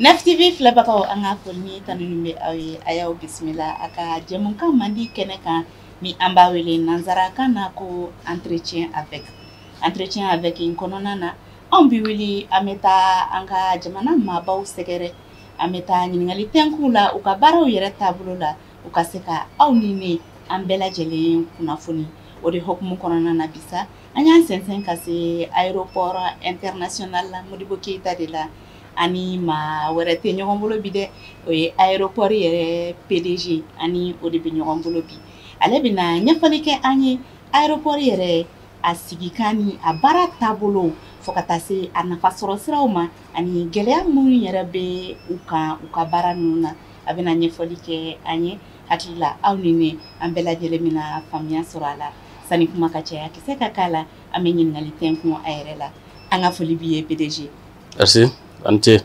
NAF-TV filɛbagaw an ka foli ni tanuni bɛ aw ye a y'aw bisimila a ka jɛmukan mandi kɛnɛ kan ni an b'a wele nansarakan na ko entretien avec entretien avec in kɔnɔna na anw bi wuli an bɛ taa an ka jamana maabaw sɛgɛrɛ An bɛ taa ɲininkali tɛnku u la u ka baaraw yɛrɛ taabolo la u ka se ka aw ni ne an bɛɛ lajɛlen kunnafoni o de hukumu kɔnɔna na bi sa an y'an sɛnsɛn ka se aéroport international la Modibo Keyita de la an ni maa wɛrɛ tɛ ɲɔgɔn bolo bi dɛ o ye aéroport yɛrɛ PDG an ni o de bɛ ɲɔgɔn bolo bi ale bɛna ɲɛfɔli kɛ an ye aéroport yɛrɛ a sigikan ni a baara taabolo fo ka taa se a nafa sɔrɔ siraw ma Ani gɛlɛya minnu yɛrɛ bɛ u kan u ka baara ninnu na a bɛna ɲɛfɔli kɛ an ye hakili la aw ni ne an bɛɛ lajɛlen bɛna faamuya sɔrɔ a la sani kuma ka caya kisɛ ka k'a la an bɛ ɲininkali tɛnku a yɛrɛ la an ka foli b'i ye PDG merci a ni ce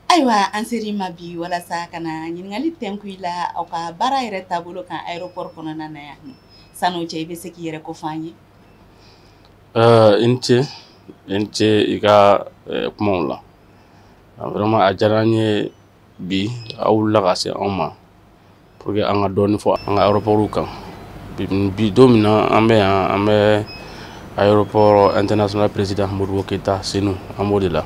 ayiwa an ser'i ma bi walasa ka na ɲininkali tɛnku i la aw ka baara yɛrɛ taabolo kan aéroport kɔnɔna na yan san'o cɛ i bɛ se k'i yɛrɛ ko fɔ an ye i ni ce i ni ce i ka kumaw la vraiment a diyara an ye bi aw wulila ka se anw ma pour que an ka dɔɔni fɔ an ka aéroportw kan bi don min na an bɛ yan an bɛ aéroport international président modibo keyita senu an b'o de la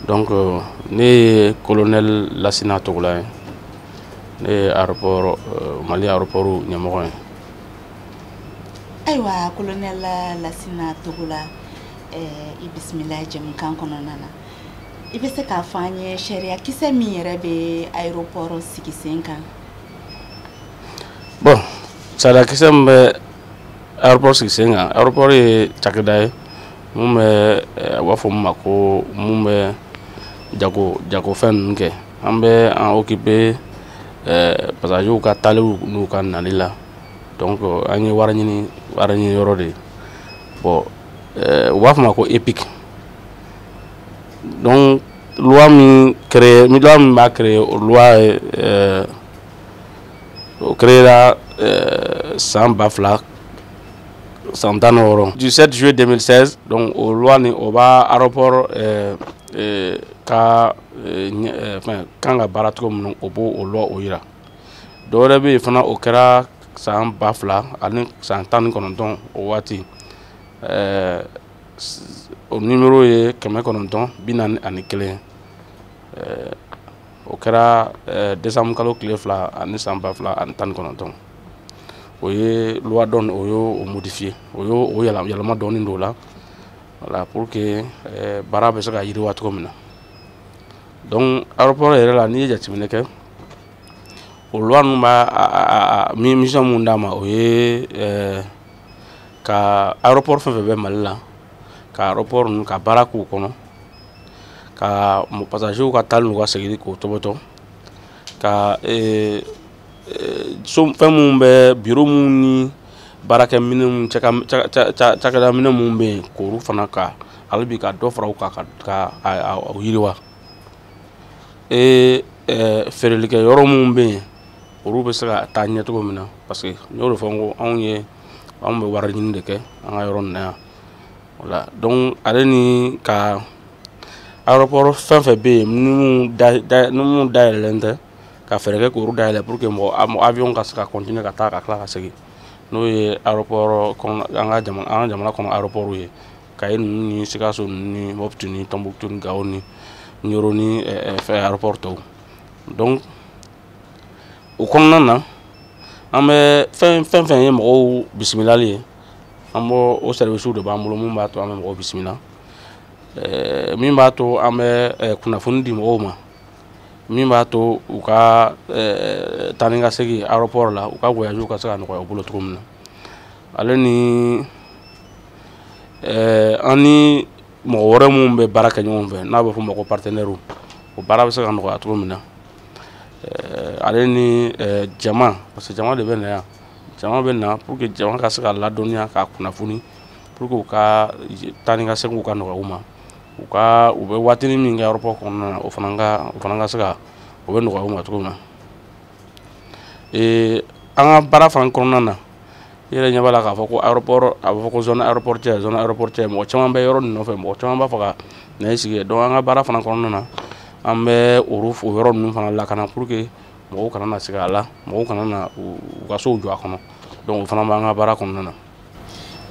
donc euh, ne ye colonel lasina togola ye ne ye aéroport euh, mali aéroport ɲɛmɔgɔ ye ayiwa colonel lasina togola eh, i bisimila jɛmukan kɔnɔna na i bɛ se k'a fɔ an ye sariya kisɛ min yɛrɛ bɛ aéroport sigi sen kan bon sariya kisɛ min bɛ aéroport sigi sen kan aéroport ye cakɛda ye mun bɛ eh, u b'a fɔ min ma ko mun bɛ jago jagofɛn ninnu kɛ an bɛ an occuper eh, passagerw ka taaliw n'u ka nali la donc euh, an ye wari ɲini wari ɲini yɔrɔ de ye bon euh, u b'a fɔ ma ko EPIC donc loi min créé loi min b'a créer o loi ye euh, o créera euh, san ba fila san tan ni wɔɔrɔ du 7 juillet 2016 donc o loi nin o b'a aéroport euh, euh, ka euh, ɲɛ- euh, fɛn kan ka baara cogo min na o b'o o loi o yira dɔ wɛrɛ bɛ yen fana o kɛra san ba fila ani san tan ni kɔnɔntɔn o waati ɛɛ o nimero ye kɛmɛ kɔnɔntɔn bi naani ani kelen ɛɛ o kɛra ɛɛ desanbu kalo tile fila ani san ba fila ani tan ni kɔnɔntɔn o ye loi dɔ o y'o modifiye o y'o o yɛlɛma dɔɔni don o la voilà pour que ɛɛ baara bɛ se ka yiriwa cogo min na. donc aéroport yɛrɛ la n'i ye jateminɛ kɛ o loi ninnu b'a mi mission min d'a ma o ye eh, ka aéroport fɛn fɛn bɛ mali la ka aéroport ninnu ka baara k'u kɔnɔ ka pasagew ka taali n'u ka seginni k'o tɔbɔtɔ ka eh, eh, so fɛn minnu bɛ biro minnu ni baarakɛ minɛnw cakɛda minɛn minnu bɛ yen k'olu fana ka hali bi ka dɔ fara u kan ka ka a yiriwa ee feerelikɛ yɔrɔ minnu bɛ yen olu bɛ se ka taa ɲɛ cogo min na parce que n y'o de fɔ n ko anw ye anw bɛ wari ɲini de kɛ an ka yɔrɔ nin na yan voilà donc ale ni ka aéroport fɛn fɛn bɛ yen minnu da da minnu dayɛlɛlen tɛ ka fɛɛrɛ kɛ k'olu dayɛlɛ pour que mɔgɔ avion ka se ka continuer ka taa ka tila ka segin n'o ye aéroport kɔnɔ an ka jamana an ka jamana kɔnɔ aéroport ye kayi ninnu ni sikaso ninnu ni mopti ni tɔnbukutu ni gawo ni ɲɔrɔ ni fɛn aéroport tɔw donc o kɔnɔna na an bɛ fɛn fɛn fɛn ye mɔgɔw bisimilali ye an b'o o services de b'an bolo min b'a to an bɛ mɔgɔw bisimila min b'a to an bɛ kunnafoni di mɔgɔw ma min b'a to u ka taa ni ka segin aéroport la u ka voyage ka se ka nɔgɔya u bolo cogo min na ale ni eh, an ni mɔgɔ wɛrɛ minnu bɛ baara kɛ ɲɔgɔn fɛ n'a bɛ fɔ o ma ko partenaires o baara bɛ se ka nɔgɔya cogo min na eh, ale ni eh, jama parce que jama de bɛ na yan jama bɛ na pour que jama ka se ka ladɔnniya ka kunnafoni pour que u ka taa ni ka segin ka nɔgɔya u ma u ka u bɛ waatinin min kɛ aéroport kɔnɔna na o fana ka o fana ka se ka o bɛ nɔgɔya u ma cogo min na ee an ka baara fana kɔnɔna na i yɛrɛ ɲɛ b'a la k'a fɔ ko aéroport a bɛ fɔ ko zone aéroportuaire zone aéroportuaire mɔgɔ caman bɛ yɔrɔ nin nɔfɛ mɔgɔ caman b'a fɛ ka na i sigi donc an ka baara fana kɔnɔna na an bɛ o yɔrɔ ninnu fana lakana pour que mɔgɔw kana na sigi a la mɔgɔw kana na u ka sow jɔ a kɔnɔ donc o fana b'an ka baara kɔnɔna na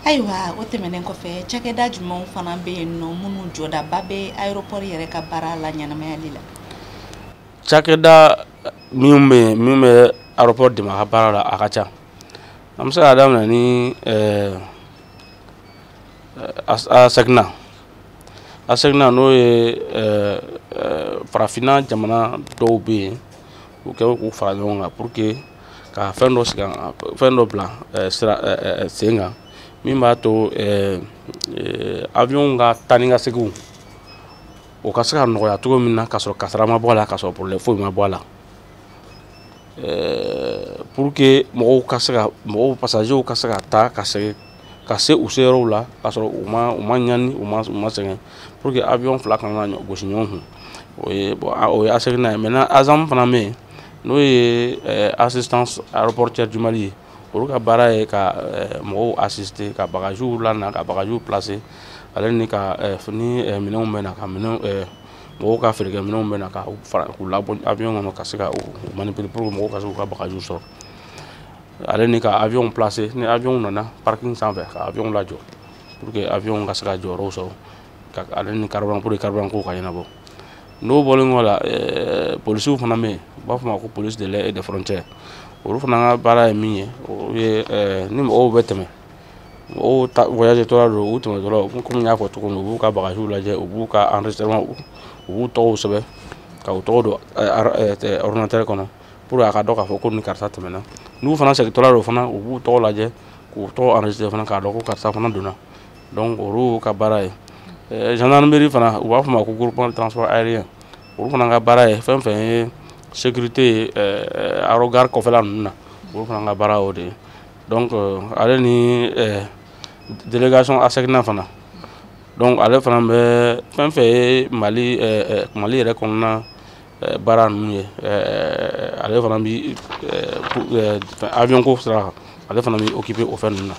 ayiwa o tɛmɛnen kɔfɛ cakɛda jumɛnw fana bɛ yen nɔ minnu jɔdaba bɛ aéroport yɛrɛ ka baara laɲɛnamayali la cakɛda minnu bɛ yen minnu bɛ aéroport dɛmɛ a ka baara la a ka ca an bɛ se k'a daminɛ ni ɛɛ ASECNA ASECNA n'o ye ɛɛ farafinna jamana dɔw bɛ yen u kɛ k'u fara ɲɔgɔn kan pour que ka fɛn dɔ sigi fɛn dɔ bila sira sen kan min b'a to avion ka taa ni ka seginw o ka se ka nɔgɔya cogo min na k'a sɔrɔ kasara ma bɔ a la k'a sɔrɔ problème foyi ma bɔ a la pour que mɔgɔw ka se ka mɔgɔw pasazew ka se ka taa ka segin ka se u seyɔrɔw la k'a sɔrɔ u ma u ma ɲani u ma u ma sɛgɛn pour que avion fila kana na gosi ɲɔgɔn kun o ye bon o ye ASECNA ye maintenant ASAM fana bɛ yen n'o ye assistance aéroportuaire du mali ye olu ka baara ye ka eh, mɔgɔw assister ka bagajiw lana ka bagajiw placer ale ni ka eh, ni eh, minɛnw bɛ na ka minɛnw mɔgɔw ka feerekɛ minɛnw bɛ na ka fara k'u labɔ avion kɔnɔ ka se ka u manipuler pour que mɔgɔw ka se k'u ka bagajiw sɔrɔ ale ni ka avion placer ni avion nana parking sanfɛ ka avion lajɔ pour que avion ka se ka jɔyɔrɔw sɔrɔ ka ale ni carburant pour que carburant ko ka ɲɛnabɔ n'o bɔlen kɔ la eh, polisiw fana bɛ yen u b'a fɔ ma ko police de l'air et des frontières olu fana ka baara ye min ye o ye eh, ni mɔgɔw bɛ tɛmɛ mɔgɔw ta voyage tɔla don u tɛmɛtɔla komi n y'a fɔ cogo min u b'u ka bagajiw lajɛ u b'u ka enregistrement u b'u tɔgɔw sɛbɛn ka u tɔgɔ don eh, ordinateur kɔnɔ pour que a ka dɔn k'a fɔ ko ni karisa tɛmɛna n'u fana segintɔla don fana u b'u tɔgɔ lajɛ k'u tɔgɔ enregistrer fana k'a dɔn ko karisa fana donna donc olu ka baara ye eh, gendarmerie fana u b'a fɔ ma ko groupement de transport aérien olu fana ka baara ye fɛn fɛn ye sécurité ye eh, aérogare kɔfɛla ninnu na olu fana ka baara o de ye donc euh, ale ni eh, délégation ASECNA fana donc ale fana bɛ fɛn fɛn ye mali mali yɛrɛ kɔnɔna eh, baara ninnu ye eh, ale fana bi eh, avion ko sira kan ale fana bi occuper o fɛn ninnu na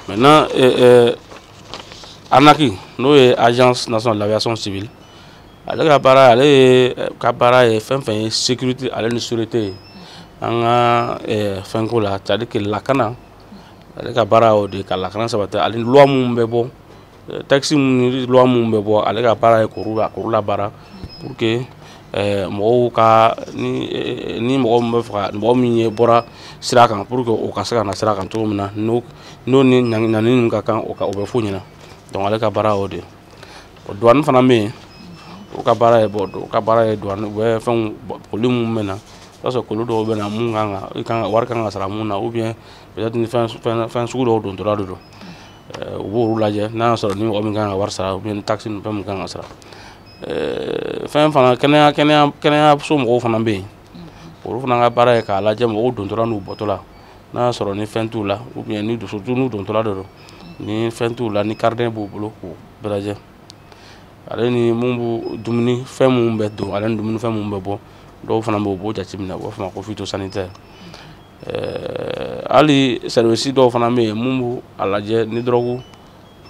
maintenant ANAC n'o ye agence nationale de l'aviation civile ale ka baara ale ye ka baara ye fɛn fɛn ye sécurité ale ni sûreté ye an ka fɛnko la c'est à dire que lakana ale ka baara y'o de ye ka lakana sabati ale ni loi minnu bɛ bɔ Texte minnu loi minnu bɛ bɔ ale ka baara ye k'olu la k'olu labaara pour que mɔgɔw ka ni mɔgɔ bɛ faga mɔgɔ min ye bɔra sira kan pour que o ka se ka na sira kan cogo min na n'o ni ɲangini ka kan o bɛ f'u ɲɛna donc ale ka baara o de douane fana bɛ yen u ka baara ye douane ka baara ye bɛ fɛn colis minnu bɛ na i b'a sɔrɔ colis dɔw bɛ na minnu kan kan wari ka kan ka sara minnu na ou bien fɛn sugu dɔw dontɔla de don u b'olu lajɛ n'a y'a sɔrɔ ni mɔgɔ min kan ka wari sara ou bien ni taxe ni fɛn min kan ka sara fɛn fana kɛnɛya kɛnɛya kɛnɛyaso mɔgɔw fana bɛ yen olu fana ka baara ye k'a lajɛ mɔgɔw dontɔla n'u bɔtɔla n'a y'a sɔrɔ ni fɛn t'u la ou bien ni surtout n'u dontɔla de don ni fɛn t'u la ni carnet b'u bolo k'u bɛɛ lajɛ ale ni mun b'u dumuni fɛn minnu bɛ don ale ni dumuni fɛn minnu bɛ bɔ dɔw fana bɛ yen u b'o jateminɛ u b'a fɔ o ma ko phytosanitaire eh, hali sɛrivisi dɔw fana bɛ yen minnu b'a lajɛ ni dɔrɔgu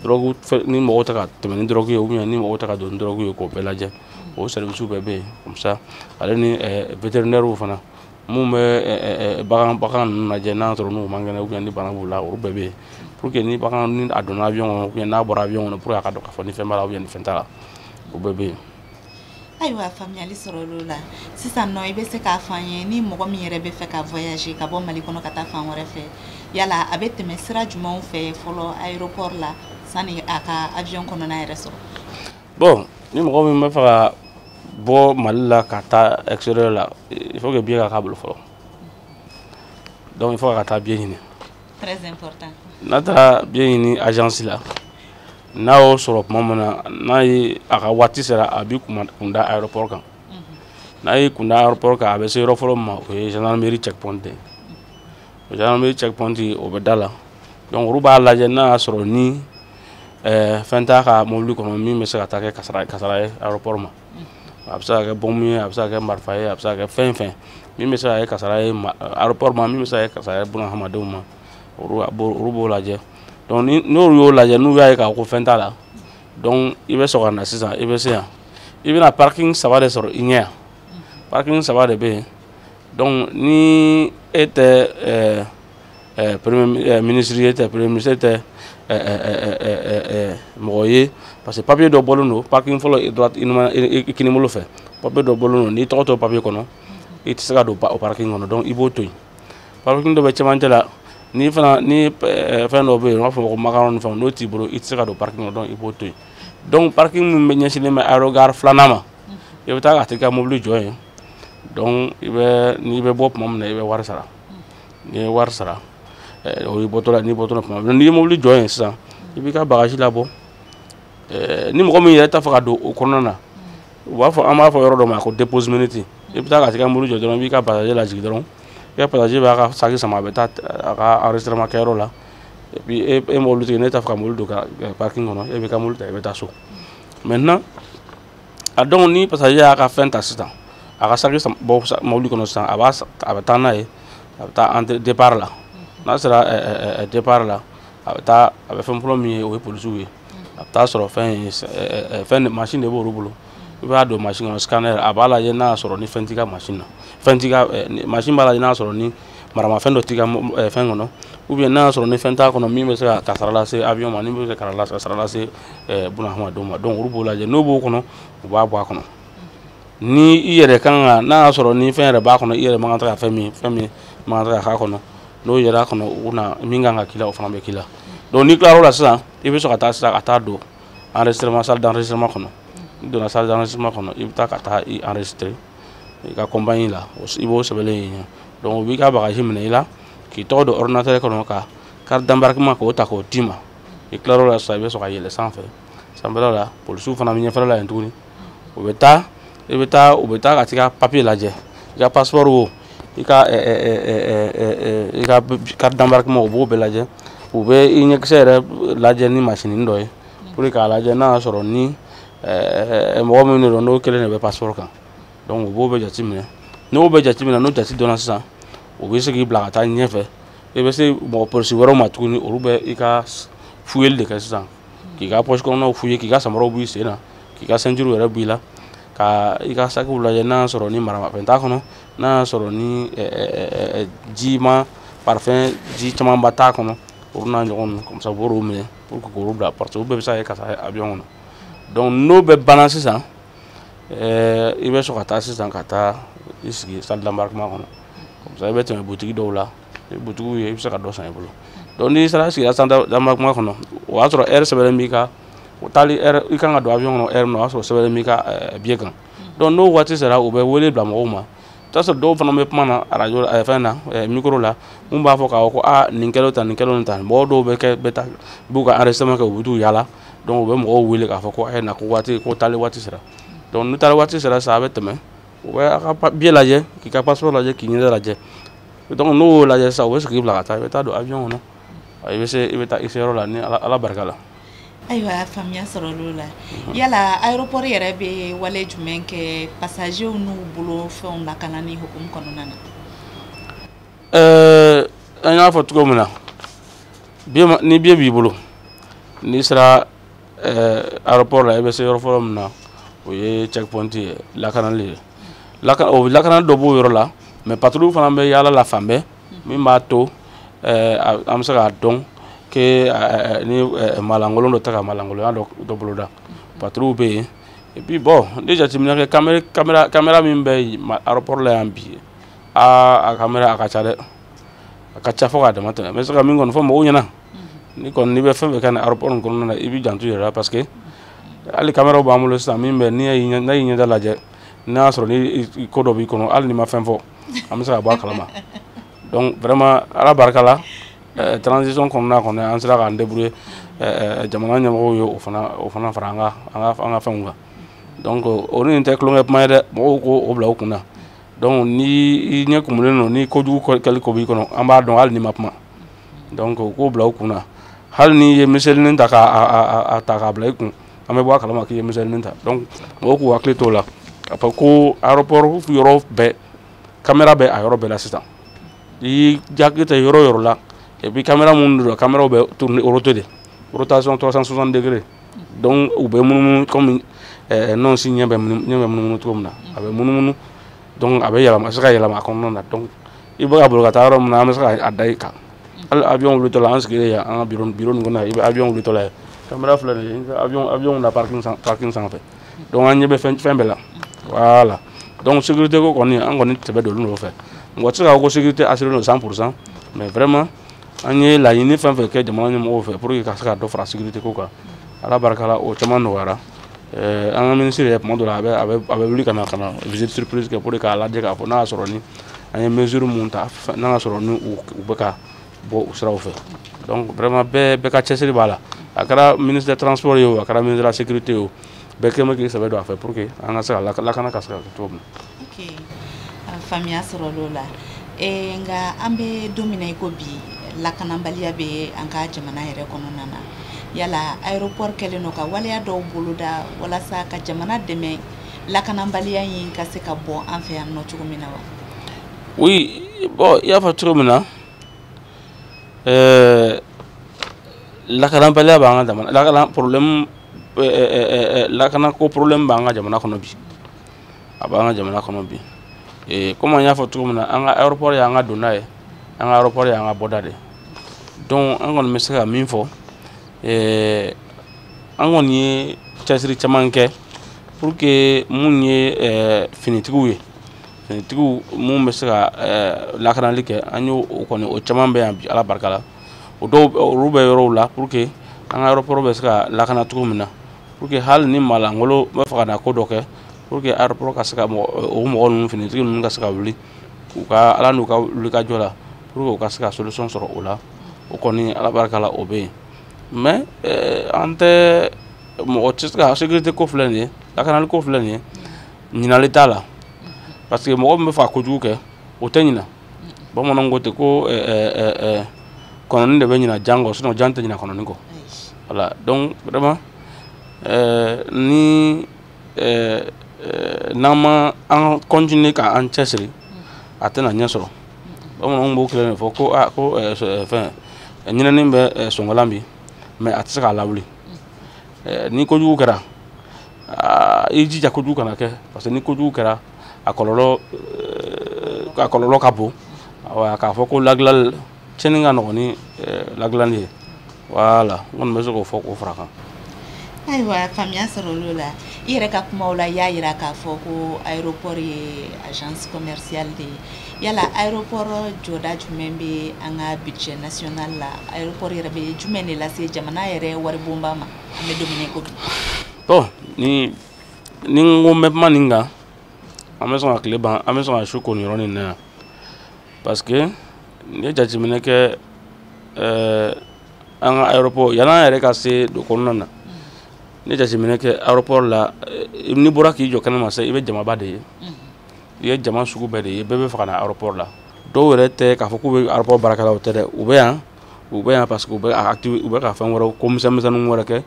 dɔrɔgu ni mɔgɔw tɛ ka tɛmɛ ni dɔrɔgu ye ou bien ni mɔgɔw tɛ ka don ni dɔrɔgu ye k'o bɛɛ lajɛ o sɛrivisiw bɛɛ bɛ yen comme ça ale ni vétérinairew eh, fana mun bɛ eh, bagan bagan ninnu lajɛ n'a sɔrɔ n'u man kɛnɛ ou bien ni bana b'u la olu bɛɛ bɛ yen pour que ni bagan ni a donna avion kɔnɔ ou bien n'a bɔra avion kɔnɔ pour que a ka dɔn k'a fɔ ni fɛn b'a la ou bien ni fɛn t'a la o bɛɛ bɛ yen ayiwa faamuyali sɔrɔla o la sisan nɔ i bɛ se k'a fɔ an ye ni mɔgɔ min yɛrɛ bɛ fɛ ka voyager ka bɔ mali kɔnɔ ka taa fan wɛrɛ fɛ yala a bɛ tɛmɛ sira jumɛnw fɛ fɔlɔ aéroport la sani a ka avion kɔnɔna yɛrɛ sɔrɔ bon ni mɔgɔ min bɛ fɛ ka bɔ mali la ka taa extérieur la il faut que billet ka k'a bolo fɔlɔ donc il faut a ka taa billet ɲini très important n'a taara billet ɲini agence la n'a y'o sɔrɔ tuma min na n'a ye a ka waati sera a b'i kun da aéroport kan mhm. n'a y'i kun da aéroport kan a bɛ se yɔrɔ fɔlɔ min ma o ye gendarmerie checkpoint ye o gendarmerie checkpoint o bɛ da la donc olu b'a lajɛ n'a y'a sɔrɔ ni eh, fɛn t'a ka mobili kɔnɔ min bɛ se ka taa kɛ kasara ye aéroport ma a bɛ se ka kɛ bɔnmu ye a bɛ se ka kɛ marifa ye a bɛ se ka kɛ fɛn fɛn min bɛ se ka kɛ kasara ye aéroport ma min bɛ se ka kɛ kasara ye bunahadamadenw ma olu b'o lajɛ donc n'olu y'o lajɛ n'u y'a ye k'a ko fɛn t'a la donc i bɛ sɔrɔ ka na sisan i bɛ se yan i bɛna parking saba de sɔrɔ i ɲɛ yan parking saba de bɛ yen donc ni e tɛ ɛɛ ɛɛ premier ministre ye e tɛ premier ministre e tɛ mɔgɔ ye parce que papier dɔ bɔlen don parking fɔlɔ droite i kinibolo fɛ papier dɔ bɔlen don n'i tɔgɔ t'o papier kɔnɔ i tɛ se ka don o parking kɔnɔ donc i b'o to yen parking dɔ bɛ cɛmancɛ la ni fana ni fɛn dɔ bɛ yen u b'a fɔ ko macaron ni fɛnw n'o t'i bolo i tɛ se ka don parking kɔnɔ donc i b'o to yen donc parking min bɛ ɲɛsinnen bɛ aérogare filanan ma i bɛ taa ka t'i ka mobili jɔ yen donc i bɛ n'i bɛ bɔ tuma min na i bɛ wari sara n'i ye wari sara eh, o y'i bɔtɔla n'i bɔtɔla tuma min n'i ye mobili jɔ yen sisan i b'i ka bagaji labɔ eh, ni mɔgɔ min yɛrɛ t'a fɛ ka don o kɔnɔna na u b'a fɔ an b'a fɔ yɔrɔ dɔ ma ko dépose minute i bɛ taa ka t'i ka mobili jɔ dɔrɔn i b'i ka passager lajigin dɔrɔn i ka passager b'a ka saki sama a bɛ taa a ka enregistrement kɛyɔrɔ la et puis e e mobilitigi n'e t'a fɛ ka mobili don ka parking kɔnɔ e b'i ka mobili ta i bɛ taa so maintenant a donc ni pasajɛ y'a ka fɛn ta sisan a ka saki bɔ mobili kɔnɔ sisan a b'a a bɛ taa n'a ye a bɛ taa entrée départ la n'a sera départ la a bɛ taa a bɛ fɛn fɔlɔ min ye o ye polisiw ye a bɛ t'a sɔrɔ fɛn ye fɛn mansin de b'olu bolo i b'a don mansin kɔnɔ scanner a b'a lajɛ n'a y'a sɔrɔ ni fɛn t'i ka mansin na fɛn t'i ka mansin b'a lajɛ n'a y'a sɔrɔ ni maramafɛn dɔ t'i ka fɛn kɔnɔ ou bien n'a y'a sɔrɔ ni fɛn t'a kɔnɔ min bɛ se ka kasara lase avion ma min bɛ se ka kasara lase bunahadamadenw ma donc olu b'o lajɛ n'o b'o kɔnɔ u b'a bɔ a kɔnɔ ni i yɛrɛ kan ka n'a y'a sɔrɔ ni fɛn yɛrɛ b'a kɔnɔ i yɛrɛ man kan tɛ ka fɛn min fɛn min man kan tɛ ka k'a kɔnɔ n'o yɛrɛ kɔnɔ u na min kan ka k'i la o fana bɛ k'i la donc n'i tilar'o la sisan i bɛ sɔrɔ ka taa sisan ka taa don enregistrement salle d'enregistrement kɔnɔ n'i donna salle d'enregistrement kɔnɔ i bɛ taa ka taa i enregistrer i ka compagnie la i b'o sɛbɛnlen ye yen donc u b'i ka bagaji minɛ i la k'i tɔgɔ don ordinateur kɔnɔ ka carte d'embarquement k'o ta k'o d'i ma i tilar'o la sisan i bɛ sɔrɔ ka yɛlɛ sanfɛ sanfɛla la polisiw fana bɛ ɲɛfɛla la yen tuguni u bɛ taa i bɛ taa u bɛ taa ka t'i ka papiye lajɛ i ka pasipɔri wo i ka i ka carte d'embarquement u b'o bɛɛ lajɛ u bɛ i ɲɛkisɛ yɛrɛ lajɛ ni masinin dɔ ye pour que k'a lajɛ n'a y'a sɔrɔ ni mɔgɔ min de don n'o kelen de bɛ pasipɔri kan donc u b'o bɛɛ jateminɛ n'o bɛɛ jateminɛ n'o jate dɔnna sisan u bɛ se k'i bila ka taa ɲɛfɛ i bɛ se mɔgɔ polisi wɛrɛw ma tuguni olu bɛ i ka fuyeli de kɛ sisan k'i ka pɔsi kɔnɔnaw fuye k'i ka samaraw b'i sen na k'i ka ceinture yɛrɛ b'i la ka i ka sakiw lajɛ n'a y'a sɔrɔ ni maramafɛn t'a kɔnɔ n'a y'a sɔrɔ ni jima parfum ji camanba t'a kɔnɔ olu n'a ɲɔgɔn ninnu comme ça u b'olu minɛ pour que k'olu bila parce que olu bɛɛ bɛ se ka kɛ ka taa avion kɔnɔ donc n'o bɛɛ banna sisan i bɛ sɔrɔ ka taa sisan ka taa i sigi salle d'embarquement kɔnɔ comme ça i bɛ tɛmɛ butigi dɔw la ni butigiw ye i bɛ se ka dɔ san i bolo donc n'i sera sigira salle d'embarquement kɔnɔ o y'a sɔrɔ ɛri sɛbɛnlen b'i ka o taali ɛri i kan ka don avion kɔnɔ ɛri min na o y'a sɔrɔ sɛbɛnlen b'i ka eh, biye kan donc n'o waati sera u bɛ wele bila mɔgɔw ma i bɛ t'a sɔrɔ dɔw fana bɛ kuma na arajo la eh, fɛn na eh, micro la minnu b'a fɔ k'a fɔ ko aa nin kɛlen tan nin kɛlen tan mɔgɔ dɔw bɛ kɛ bɛ taa b'u ka enregistrement kɛ u bɛ t'u yaala donc u bɛ mɔgɔw wele k'a fɔ ko a ye na ko waati ko taali waati sera donc n'u taali waati sera sa a bɛ tɛmɛ u bɛ a ka biye lajɛ k'i ka passeport lajɛ k'i ɲɛda lajɛ donc n'o y'o lajɛ sisan u bɛ se k'i bila ka taa i bɛ taa don avion kɔnɔ i bɛ se i bɛ taa i se yɔrɔ la ni ala barika la ayiwa faamuya sɔrɔl'o la yala aéroport yɛrɛ bɛ wale jumɛn kɛ passagers n'u bolo fɛnw lakanani hukumu kɔnɔna na ɛɛ an y'a fɔ cogo min na ni biye b'i bolo n'i sera eh, aéroport la i bɛ se yɔrɔ fɔlɔ min na o ye checkpoint ye lakanali ye lakana o lakana dɔ b'o yɔrɔ la mais patrouille fana bɛ yaala la fan bɛɛ min b'a to eh, an bɛ se k'a dɔn que eh, ni malankolon dɔ tɛ ka malankolonya dɔ boloda patrouille bɛ yen et puis bon ni jateminɛ kɛ kamera kamera kamera min bɛ aéroport la yan bi aa a kamera a ka ca dɛ a ka ca fo k'a dama tɛmɛ n bɛ se ka min kɔni fɔ mɔgɔw ɲɛna ni kɔni n'i bɛ fɛn fɛn kɛ nin aéroport in kɔnɔna na i b'i janto i yɛrɛ la parce que hali caméra b'an bolo sisan min bɛ n'i y'i n'a y'i ɲɛda lajɛ n'a y'a sɔrɔ ni ko dɔ b'i kɔnɔ hali n'i ma fɛn fɔ an bɛ se ka bɔ a kalama donc vraiment ala barika la euh, transition kɔnɔna kɔni an sera k'an débrouiller euh, euh, jamana ɲɛmɔgɔw ye o fana o fana fara an ka an ka an ka fɛnw kan donc o ni nin tɛ tulonkɛ kuma ye dɛ mɔgɔw k'o bila u kun na donc ni i ɲɛ kumunen don ni kojugu kɛli ko b'i kɔnɔ an b'a dɔn hali n'i ma kuma donc u k'o bila u kun na hali n'i ye miselinin ta k'a ta k'a bila i kun an bɛ bɔ a kalama k'i ye miselinin ta donc mɔgɔw k'u hakili t'o la k'a fɔ ko aéroport yɔrɔ bɛɛ kamera bɛ a yɔrɔ bɛɛ la sisan i y'i hakili ta yɔrɔ yɔrɔ la et puis kamera minnu don kameraw bɛ tourner rote de rotation 360 degrés donc u bɛ munumunu comme eh, nɔnsi ɲɛ bɛ munumunu cogo min na a bɛ munumunu donc a bɛ yɛlɛma a bɛ se ka yɛlɛma a kɔnɔna na donc i bɛ ka boli ka taa yɔrɔ min na an bɛ se k'a da i kan hali avion wulitɔla an sigilen yan an ka biro biro nin kɔnɔ i bɛ avion wulitɔla ye kamera filɛ nin ye avion avion na parking san parking sanfɛ donc an ɲɛ bɛ fɛn fɛn bɛɛ la voilà donc sécurité ko kɔni an kɔni sɛbɛ don olu nɔfɛ mɔgɔ tɛ se k'a fɔ ko sécurité assurée don 100 pour cent mais vraiment an ye laɲini fɛn fɛn kɛ jamana ɲɛmɔgɔw fɛ pour que ka se ka dɔ fara sécurité ko kan ala barika la o caman nɔgɔyara Eh, an ka ministre yɛrɛ tuma dɔ la a bɛ wuli ka na ka na visite surprise kɛ pour que k'a lajɛ k'a fɔ n'a y'a sɔrɔ ni an ye mesure mun ta n'a y'a sɔrɔ ni u bɛ ka bɔ u siraw fɛ donc vraiment bɛɛ bɛɛ ka cɛsiri b'a la a kɛra ministre de transport ye o a kɛra ministre de la sécurité ye o bɛɛ kɛlen bɛ k'i sɛbɛ don a fɛ pour que an ka se ka lakana ka se ka kɛ cogo min na ok faamuya sɔrɔl'o la ee nka an bɛ don min na i ko bi lakanabaliya bɛ an ka jamana yɛrɛ kɔnɔna na yala aéroport kɛlen don ka waleya dɔw boloda walasa ka jamana dɛmɛ lakanabaliya in ka se ka bɔ an fɛ yan nɔ cogo min na wa oui bon i y'a fɔ cogo min na ɛɛ lakanabaliya b'an ka jamana lakana problème ɛɛ ɛɛ ɛɛ lakanako problème b'an ka jamana kɔnɔ bi a b'an ka jamana kɔnɔ bi ee komi an y'a fɔ cogo min na an ka aéroport y'an ka donda ye an ka aéroport y'an ka bɔda de donc an kɔni bɛ se ka min fɔ ee an kɔni ye cɛsiri caman kɛ pour que mun ye ɛɛ finitigiw ye finitigiw mun bɛ se ka ɛɛ lakanali kɛ an y'o o kɔni o caman bɛ yan bi ala barika la o dɔw olu bɛ yɔrɔw la pour que an ka aéroport bɛ se ka lakana cogo min na pour que hali ni maa lankolon b'a fɛ ka na ko dɔ kɛ pour que aéroport ka se ka o mɔgɔ ninnu finitigi ninnu ka se ka wuli u ka ala n'u ka wulikajɔ la pour que u ka se ka solution sɔrɔ o la o kɔni ala barika la o bɛ yen mais eh, an tɛ mɔgɔ tɛ se ka sécurité ko filɛ nin ye lakanali ko filɛ nin ye ɲinali t'a la parce que mɔgɔ min bɛ fɛ ka kojugu kɛ o tɛ ɲina bamananw ko ten ko eh, eh, eh, kɔnɔni de bɛ ɲina jan kɔ sinon jan tɛ ɲina kɔnɔni kɔ voilà donc vraiment ni n'an ma an continuer ka an cɛsiri a tɛna ɲɛ sɔrɔ bamananw b'o kelen de fɔ ko a ah, ko fɛn ɲinɛni bɛ sɔngɔlan bin mais a tɛ se k'a lawuli ni kojugu kɛra ah, i jija kojugu kana kɛ parce que ni kojugu kɛra a kɔlɔlɔ a kɔlɔlɔ ka bon wa k'a fɔ ko lagilali cɛni ka nɔgɔn ni lagilali ye voilà n kɔni bɛ se k'o fɔ k'o fara kan ayiwa faamuya sɔrɔla o la i yɛrɛ ka kumaw la i y'a yira k'a fɔ ko aéroport ye agence commerciale de ye yala aéroport jɔda jumɛn bɛ an ka budget national la aéroport yɛrɛ bɛ jumɛn de lase jamana yɛrɛ waribonba ma an bɛ don min na i ko bi bon ni ni n ko n bɛ kuma nin kan an bɛ sɔn ka tile ban an bɛ sɔn ka su ko nin yɔrɔ nin na yan parce que n ye jateminɛ kɛ ɛɛ eh, an ka aéroport yanni an yɛrɛ ka se don kɔnɔna na n ye jateminɛ kɛ aéroport la eh, n'i bɔra k'i jɔ kɛnɛma sisan i bɛ jamaba de ye i ye jama sugu bɛɛ de ye bɛɛ bɛ fɛ ka na aéroport la dɔw yɛrɛ tɛ k'a fɔ k'u bɛ aéroport baarakɛlaw tɛ dɛ u bɛ yan u bɛ yan parce que u bɛ ka u bɛ ka fɛn wɛrɛw ko misɛnmisɛnninw wɛrɛ kɛ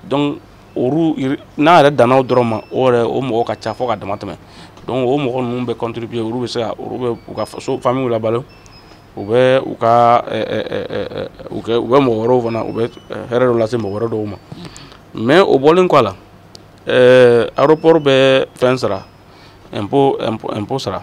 donc olu n'a yɛrɛ danna o dɔrɔn ma o yɛrɛ o mɔgɔ ka ca fo ka dama tɛmɛ donc o mɔgɔ ninnu bɛ contribuer olu bɛ se ka olu bɛ u ka faso famille labalo u bɛ u ka u kɛ u bɛ mɔgɔ wɛrɛw fana u bɛ hɛrɛ dɔ lase mɔgɔ wɛrɛ dɔw ma mais o bɔlen kɔ a la aéroport bɛ fɛn sara impôt impôt sara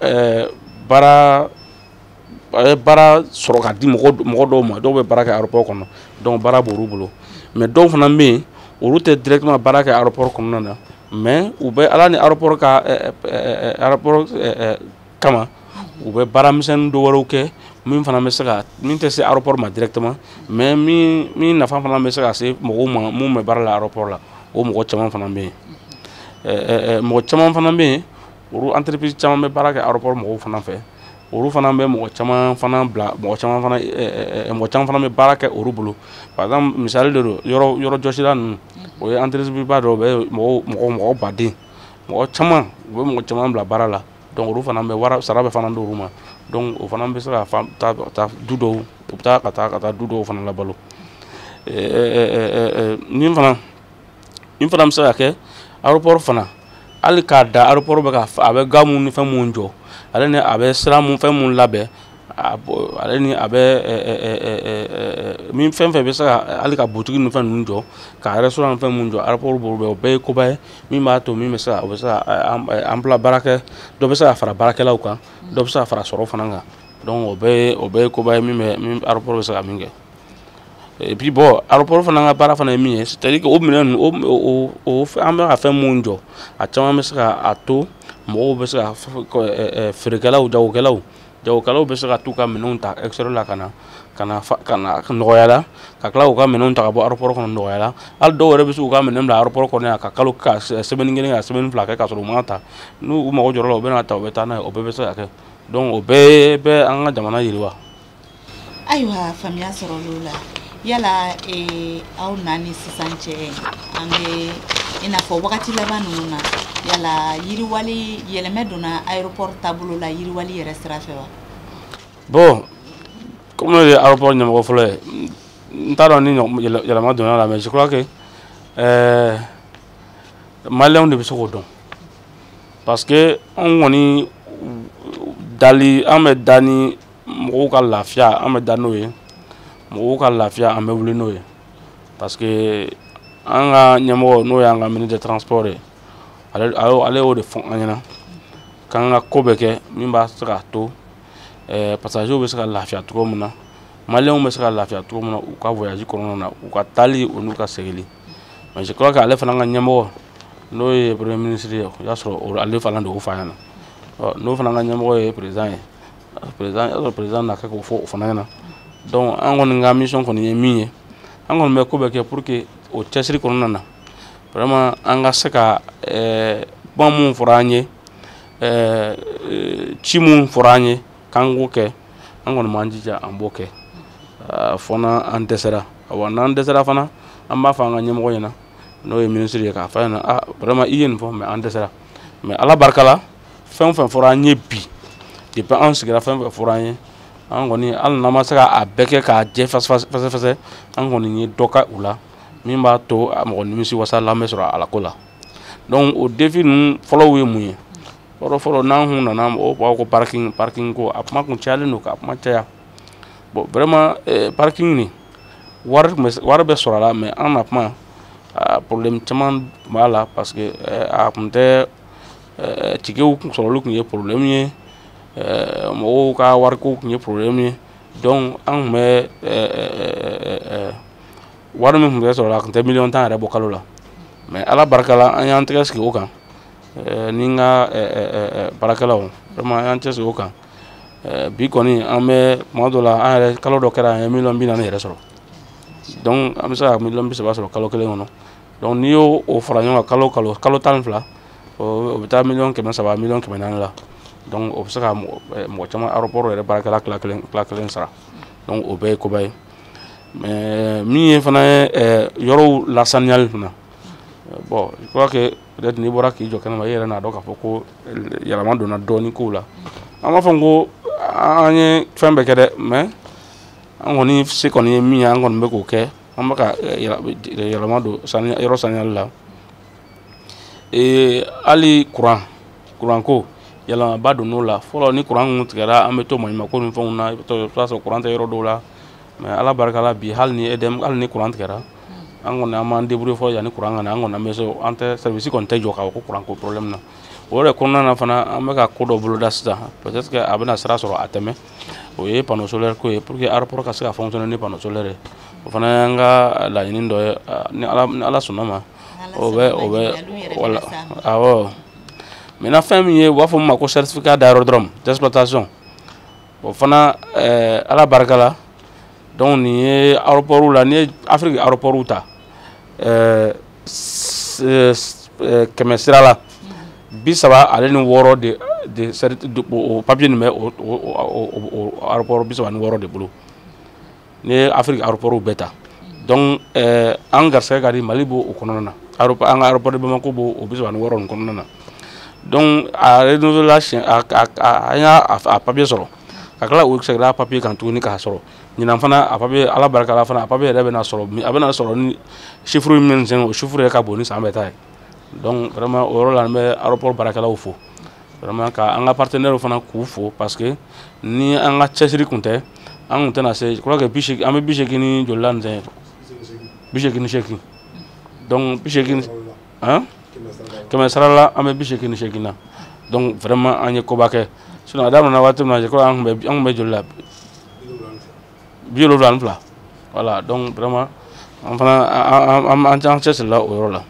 ɛɛ baara a bɛ baara sɔrɔ ka di mɔgɔ mɔgɔ dɔw ma dɔw bɛ baara kɛ aéroport kɔnɔ donc baara b'olu bolo mais dɔw fana bɛ yen olu tɛ directement baara kɛ aéroport kɔnɔna na mais u bɛ ala ni aéroport ka ɛɛ ɛɛ aéroport ɛɛ kama u bɛ baara misɛnnin dɔ wɛrɛw kɛ min fana bɛ se ka min tɛ se aéroport ma directement mais min min nafa fana bɛ se ka se mɔgɔw ma mun bɛ baara la aéroport la o mɔgɔ caman fana bɛ yen ɛɛ ɛɛ mɔgɔ caman fana bɛ yen olu entreprise caman bɛ baara kɛ aéroport mɔgɔw fana fɛ olu fana bɛ mɔgɔ caman fana bila mɔgɔ caman fana eh, eh, mɔgɔ caman fana bɛ baara kɛ olu bolo par exemple misali de don yɔrɔ yɔrɔ jɔsila ninnu o ye entreprise ba dɔ bɛ mɔgɔw mɔgɔ mɔgɔ baden mɔgɔ caman u bɛ mɔgɔ caman bila baara la donc olu fana bɛ wara sara bɛ fana d'olu ma donc o fana bɛ se ka fa taa ka taa du dɔw u bɛ taa ka taa ka taa du dɔw fana labalo eh, eh, eh, eh, eh, nin fana min fana bɛ se ka kɛ aéroport fana hali k'a da aéroport bɛ ka a bɛ ga mun ni fɛn mun jɔ ale ni a bɛ sira mun fɛn mun labɛn ale ni a bɛ min fɛn fɛn bɛ se ka hali ka butigi ni fɛn ninnu jɔ ka restaurant ni fɛn mun jɔ aéroport b'o bɛɛ o bɛɛ ye koba ye min b'a to min bɛ se ka o bɛ se ka emploi baarakɛ dɔ bɛ se ka fara baarakɛlaw kan dɔ bɛ se ka fara sɔrɔ fana kan donc o bɛɛ ye o bɛɛ ye koba ye min bɛ aéroport bɛ se ka min kɛ et puis bon aéroport fana ka baara fana ye min ye c'est à dire que o minɛn ninnu o o an bɛ ka fɛn minnu jɔ a caman bɛ se ka a to mɔgɔw bɛ se ka feerekɛlaw jagokɛlaw jagokɛlaw bɛ se ka t'u ka minɛnw ta extérieur la ka na ka na ka na nɔgɔya la ka tila k'u ka minɛnw ta ka bɔ aéroport kɔnɔ nɔgɔya la hali dɔw yɛrɛ bɛ se k'u ka minɛn bila aéroport kɔnɔ yan ka kalo ka semaine kelen ka semaine fila kɛ k'a sɔrɔ u m'a ta n'u mago jɔra o la u bɛ n'a ta u bɛ taa n'a ye o bɛɛ bɛ se ka kɛ donc o bɛɛ bɛ an ka jamana yiriwa ayiwa faamuya sɔrɔl'o la yala eh, aw na ni sisan cɛ an bɛ i n'a fɔ wagati laban ninnu na yala yiriwali yɛlɛmɛ donna aéroport taabolo la yiriwali yɛrɛ sira fɛ wa bon comme ne ye aéroport ɲɛmɔgɔ fɔlɔ ye n t'a dɔn ni ɲɔgɔn- yɛlɛ- yɛlɛma donn'a la mais je crois que euh, maliyɛnw de bɛ se k'o dɔn parce que anw kɔni dali an bɛ da ni mɔgɔw ka lafiya an bɛ da n'o ye mɔgɔw ka lafiya an bɛ wuli n'o ye parce que an ka ɲɛmɔgɔ n'o y'an ka ministre de transport ye ale ale y'o de fɔ an ɲɛna k'an ka ko bɛɛ kɛ min bɛ se k'a to eh, pasajew bɛ se ka lafiya cogo min na maliyɛnw bɛ se ka lafiya cogo min na u ka voyage kɔnɔna na u ka taali o n'u ka seginli mais je crois que ale fana ka ɲɛmɔgɔ n'o ye premier ministre ye o y'a sɔrɔ ale fana de y'o fɔ a ɲɛna n'o fana ka ɲɛmɔgɔ ye président ye président y'a sɔrɔ président na kɛ k'o fɔ o fana ɲɛna donc an kɔni ka mission kɔni ye min ye an kɔni bɛ ko bɛɛ kɛ pour que o cɛsiri kɔnɔna na vraiment an ka se ka ɛɛ kuma minnu fɔra an ye ɛɛ ci minnu fɔra an ye k'an k'o kɛ an kɔni b'an jija an b'o kɛ fɔ n'an dɛsɛra wa n'an dɛsɛra fana an b'a fɔ an ka ɲɛmɔgɔ ɲɛna n'o ye minisiri ye k'a fɔ a ɲɛna a vraiment i ye nin fɔ mais an dɛsɛra mais ala barika la fɛn fɛn fɔra an ye bi depuis an sigira fɛn fɛn fɔra an ye an kɔni hali n'an ma se ka a bɛɛ kɛ k'a jɛ fɛsɛfɛsɛ an kɔni ye dɔ kɛ u la min b'a to mɔgɔ nimisi wasa la bɛ sɔrɔ ala ko la donc o défi ninnu fɔlɔw ye mun ye fɔlɔ fɔlɔ n'an kun nana mɔgɔw b'a ko parking parking ko a kuma kun cayalen don k'a kuma caya bon vraiment eh, parking nin wari tun bɛ wari bɛ sɔrɔ a la mais an na kuma problème caman b'a la parce que eh, a kun tɛ tickets sɔrɔli kun ye problème ye mɔgɔw ka wariko kun ye problème ye donc an tun bɛ wari min tun bɛ sɔrɔ a tun tɛ miliyɔn tan yɛrɛ bɔ kalo la mais ala barika la an y'an tɛgɛ sigi o kan ni n ka baarakɛlaw vraiment an y'an cɛsiri o kan bi kɔni an bɛ tuma dɔ la an yɛrɛ kalo dɔ kɛra an ye miliyɔn bi naani yɛrɛ sɔrɔ donc an bɛ se ka miliyɔn bi saba sɔrɔ kalo kelen kɔnɔ donc n'i y'o o fara ɲɔgɔn kan kalo o kalo kalo tan ni fila o bɛ taa miliyɔn kɛmɛ saba miliyɔn kɛmɛ naani la donc o bɛ se ka mɔgɔ caman aéroport yɛrɛ baarakɛla tila kelen tila kelen sara donc o bɛɛ ye koba ye mais min ye fana ye yɔrɔw lasaniyali fana bon je crois que peut-être n'i bɔra k'i jɔ kɛnɛma i yɛrɛ n'a dɔn k'a fɔ ko yɛlɛma donna dɔɔni kow la an m'a fɔ n ko an ye fɛn bɛɛ kɛ dɛ mais an kɔni se kɔni ye min ye an kɔni bɛ k'o kɛ an bɛ ka yɛlɛma don yɔrɔ saniyali la hali kuran kuranko yɛlɛmaba donn'o la fɔlɔ ni kuran kun tigɛra an bɛ to maɲumanko ni fɛnw na i bɛ t'a sɔrɔ kuran tɛ yɔrɔ dɔw la mais ala barika la bi hali ni e hali ni kuran tigɛra an kɔni an b'an débrouiller fɔ yanni kuran ka na an kɔni an bɛ se an tɛ service kɔni tɛ jɔ k'a fɔ ko kuranko problème na o yɛrɛ kɔnɔna na fana an bɛ ka ko dɔ boloda sisan peut-être que a bɛna sira sɔrɔ a tɛmɛ o ye panneau solaire ko ye pour que aéroport ka se ka fonctionner ni panneau solaire ye o fana y'an ka laɲini dɔ ye ni ala ni ala sɔnn'a ma o bɛ o bɛ waleya awɔ maintenant fɛn min ye u b'a fɔ min ma ko certificat d'aérodrome d'exploitation o fana ɛɛ ala barika la donc nin ye aéroportw la n'i ye afiriki aéroport ta eh, eh, kɛmɛ sira la bi saba ale ni wɔɔrɔ de de o papiye nin bɛ o aéroport bi saba ni wɔɔrɔ de bolo n'i ye afiriki aéroportw bɛɛ ta donc eh, an garisɛgɛ ka di mali b'o o kɔnɔna na an ka aéroport de bamako b'o o bi saba ni wɔɔrɔ nin kɔnɔna na donc a renouvelé la siɲɛ an y'a a papiye sɔrɔ ka tila o seginna papiye kan tuguni k'a sɔrɔ ɲinan fana a papiye ala barika la fana a papiye yɛrɛ bɛna sɔrɔ a bɛna sɔrɔ ni chiffre min bɛ sen o chiffre yɛrɛ ka bon ni san bɛɛ ta ye donc vraiment o yɔrɔ la an bɛ aéroport baarakɛlaw fo vraiment ka an ka partenaires fana k'u fo parce que ni an ka cɛsiri kun tɛ an kun tɛna se je crois que bi seegin an bɛ bi seegin ni joli la nin tɛ bi seegin ni seegin donc bi seegin hein kɛmɛ sara la an bɛ bi seegin ni seegin na donc vraiment an ye koba kɛ sinon a daminɛna waati min na je crois an tun bɛ an tun bɛ joli la bi wolonwula ni fila voilà donc vraiment an fana an an an an cɛsirila o yɔrɔ la.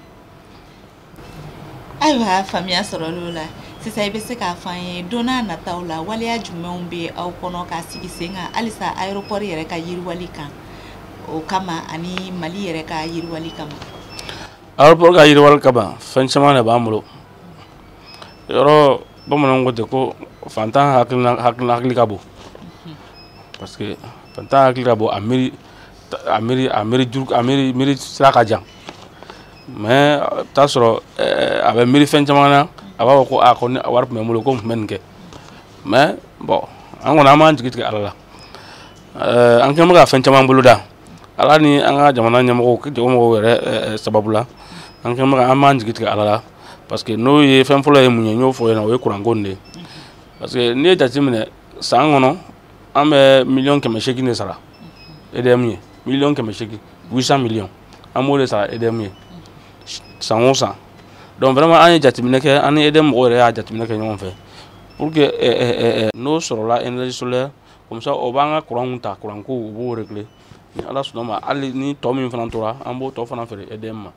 ayiwa faamuya sɔrɔl'o la sisan i bɛ se k'a fɔ an ye don nataw la waleya jumɛnw bɛ aw kɔnɔ k'a sigi sen kan halisa aéroport yɛrɛ ka yiriwali kan o kama ani mali yɛrɛ ka yiriwali kama. aéroport ka yiriwali kama fɛn caman de b'an bolo yɔrɔ bamananw ko ten ko faantan hakilina hakilina hakili ka bon parce que faantan hakili ka bon a miiri a miiri a miiri juru a miiri miiri sira ka jan mais i bɛ taa sɔrɔ eh, a bɛ miiri fɛn caman na a b'a fɔ ko a ko ni wari tun bɛ n bolo ko n tun bɛ nin kɛ mais bon an kɔni an m'an jigi tigɛ ala la eh, an kɛlen bɛ ka fɛn caman boloda ala ni an ka jamana ɲɛmɔgɔ ɲɛmɔgɔw yɛrɛ eh, eh, sababu la an kɛ an m'an jigi tigɛ ala la parce que n'o ye fɛn fɔlɔ ye mun ye n y'o fɔ yen na o ye kuranko de ye parce que n'i ye jateminɛ san kɔnɔ an bɛ miliyɔn kɛmɛ seegin de sara edm ye miliyɔn kɛmɛ seegin huit cent millions an b'o de sara edm ye san o san donc vraiment an ye jateminɛ kɛ an ni edm mɔgɔw yɛrɛ y'a jateminɛ kɛ ɲɔgɔn fɛ pour que eh, eh, eh, n'o sɔrɔla énergie solaire comme ça o b'an ka kuranw ta kuranko u b'o régler ni ala sɔnn'a ma hali ni tɔ min fana tora an b'o tɔ fana feere edm ma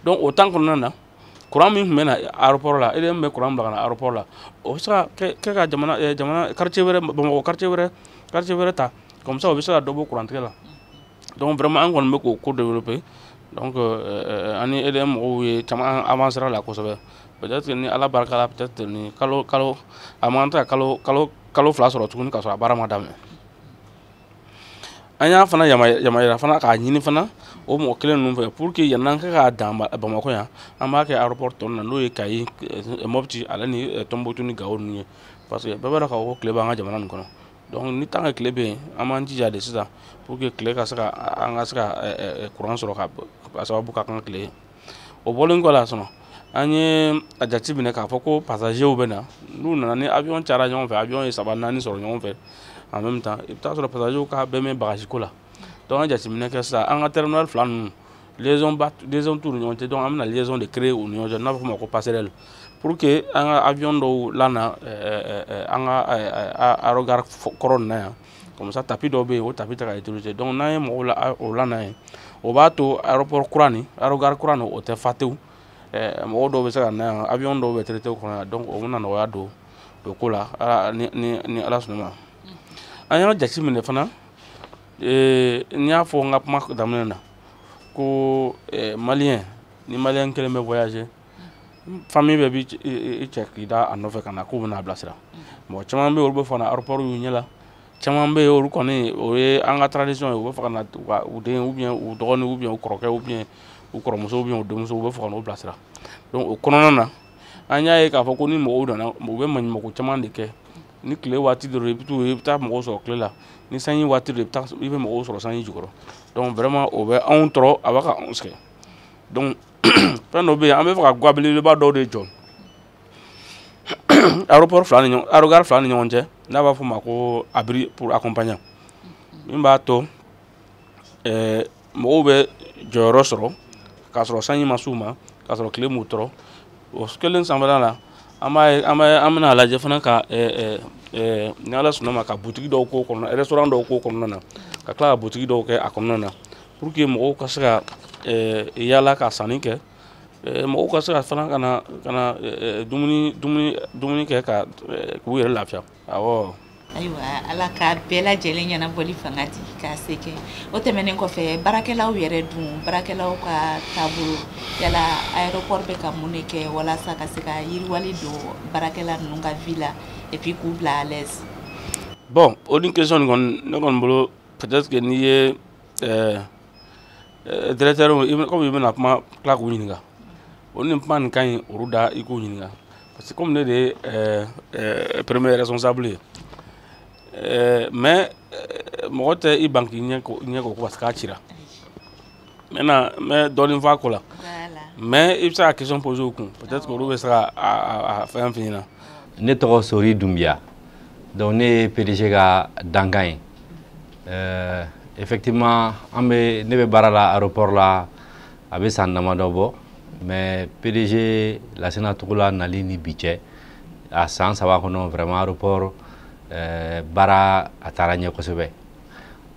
donc o temps kɔnɔna na kuran min tun bɛ na aéroport la edm bɛ kuran bila ka na aéroport la o bɛ se ka kɛ ka jamana eh, jamana quartier wɛrɛ bamakɔ quartier wɛrɛ quartier wɛrɛ ta comme ça o bɛ se ka dɔ bɔ kurantigɛ la donc vraiment an kɔni bɛ k'o ko développer donc euh, an ni EDM mɔgɔw ye caman an avancera la kosɛbɛ peut-être ni Ala barika la peut-être ni kalo kalo a man kan ka kalo kalo kalo fila sɔrɔ tuguni ka sɔrɔ a baara ma daminɛ an y'a fana yama yamaruya fana k'a ɲini fana o mɔgɔ kelen ninnu fɛ pour que yann'an ka k'a dan Bamakɔ yan an b'a kɛ aéroport tɔ ninnu na n'o ye Kayi Mopti ale ni Tombouctou ni Gao ninnu ye parce que bɛɛ b'a dɔn k'a fɔ ko tile b'an ka jamana nin kɔnɔ donc ni tant que tile bɛ yen an b'an jija de sisan pour que tile ka se ka an ka se ka kuran sɔrɔ ka a sababu ka kɛ tile ye o bɔlen kɔ la sinon an ye a jate minɛ k'a fɔ ko pasazew bɛ na n'u nana ni avion cayara ɲɔgɔn fɛ avion ye saba naani sɔrɔ ɲɔgɔn fɛ en même temps i bɛ t'a sɔrɔ pasazew ka bɛ mɛɛn bagaziko la donc an ye jateminɛ kɛ sisan an ka terminal fila ninnu liaison ba liaison t'u ni ɲɔgɔn cɛ donc an bɛna liaison de créer u ni ɲɔgɔn cɛ n'a bɛ f'o ma ko passerelle pour que an ka avion dɔw lana an ka aérogare kɔrɔ nin na yan comme ça tapis dɔw bɛ yen o tapis tɛ ka utiliser donc n'an ye mɔgɔw la o lana yen o b'a to aéroport kura nin aérogare kura nin o tɛ fa tewu mɔgɔw dɔw bɛ se ka na yan avion dɔw bɛ traiter o kɔnɔ yan donc o bɛna nɔgɔya don o ko la ni ni ni ala sɔnna ma an y'a jate minɛ fana n y'a fɔ n ka kuma daminɛ na ko eh, maliyɛn ni maliyɛn kelen bɛ voyager famille bɛɛ b'i eh, eh, cɛ k'i da a nɔfɛ ka na k'u bɛna a bilasira mɔgɔ caman bɛ yen olu bɛ fɛ ka na aéroport y'u ɲɛ la caman bɛ yen olu kɔni o ye an ka tradition ye u bɛ fɛ ka na u den ou bien u dɔgɔnin ou bien u kɔrɔkɛ ou bien u kɔrɔmuso ou bien u denmuso u bɛ fɛ ka n'u bilasira donc o kɔnɔna na an y'a ye k'a fɔ ko ni mɔgɔw nana u bɛ maɲumanko caman de kɛ ni tile waati don i bɛ taa mɔgɔw sɔrɔ tile la ni sanji waati don i bɛ mɔgɔw sɔrɔ sanji jukɔrɔ donc vraiment o bɛ anw tɔɔrɔ a b'a ka anw sɛgɛn donc fɛn dɔ bɛ yen an bɛ fɛ ka ga belebeleba dɔw de jɔ aéroport aérogare fila ni ɲɔgɔn cɛ n'an b'a f'o ma ko abri pour accompagnant min b'a to ɛɛ mɔgɔw bɛ jɔyɔrɔ sɔrɔ k'a sɔrɔ sanji ma s'u ma k'a sɔrɔ tile m'u tɔɔrɔ o kelen sanfɛla la an bɛna a lajɛ fana ka ni ala sɔnna ma ka butigi dɔw k'o kɔnɔna restaurant dɔw k'o kɔnɔna na ka tila ka butigi dɔw kɛ a kɔnɔna na pour que mɔgɔw ka se ka yaala ka sanni kɛ mɔgɔw ka se ka fana ka na dumuni kɛ ka k'u yɛrɛ lafiya awɔ ayiwa ala ka bɛɛ lajɛlen ɲɛnabɔli fanga di k'a se kɛ o tɛmɛnen kɔfɛ baarakɛlaw yɛrɛ dun baarakɛlaw ka taabolo yala aéroport bɛ ka mun de kɛ walasa ka se ka yiriwali don baarakɛla ninnu ka vie la et puis k'u bila à l'aise bon o ni question nin kɔni ne kɔni bolo peut-être que n'i ye ɛɛ Eh, directeur comme i bɛna kuma tila k'u ɲininka o ni kuma nin ka ɲi olu da i k'u ɲininka parce que comme ne de ye eh, eh, premier responsable ye mais mɔgɔ tɛ i ban k'i ɲɛ ko parce qu'a cira maintenant n bɛ dɔɔnin fɔ a ko la mais i bɛ se ka question poser u kun peut être que olu bɛ se ka a fɛn f'i ɲɛna. ne tɔgɔ sori dunbiya donc ne ye pdg ka dankan ye Euh, effectivement an bɛ ne bɛ baara la aéroport la a bɛ san damadɔ bɔ mais PDG Lasina Togola nali ni bi cɛ a san saba kɔnɔ vraiment aéroport euh, baara a taara ɲɛ kosɛbɛ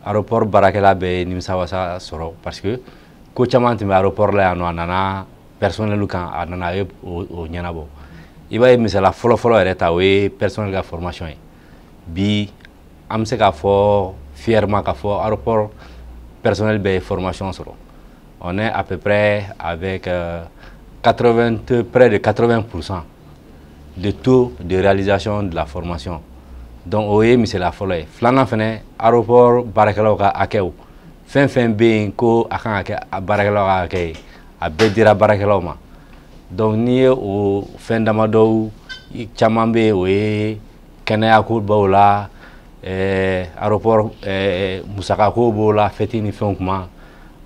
aéroport baarakɛla bɛɛ ye nimisa wasa sɔrɔ parce que ko caman tun bɛ aéroport la yan nɔ a nana personnel kan a nana a ye o ɲɛnabɔ i b'a ye misala fɔlɔfɔlɔ yɛrɛ ta o ye personnel ka formation ye bi an bɛ se k'a fɔ fièrement k'a fɔ aéroport personnel bɛɛ ye formation sɔrɔ on est à peu près avec euh, 80, près de 80% de taux de réalisation de la formation donc o ye misala fɔlɔ ye filanan fɛnɛ aéroport baarakɛlaw ka hakɛw fɛn fɛn bɛ yen ko a kan ka kɛ baarakɛlaw ka hakɛ ye a bɛɛ dira baarakɛlaw ma donc n'i ye o fɛn damadɔw caman bɛ yen o ye kɛnɛya ko b'o la eh, aéroport eh, musaka ko b'o la fɛti ni fɛnw kuma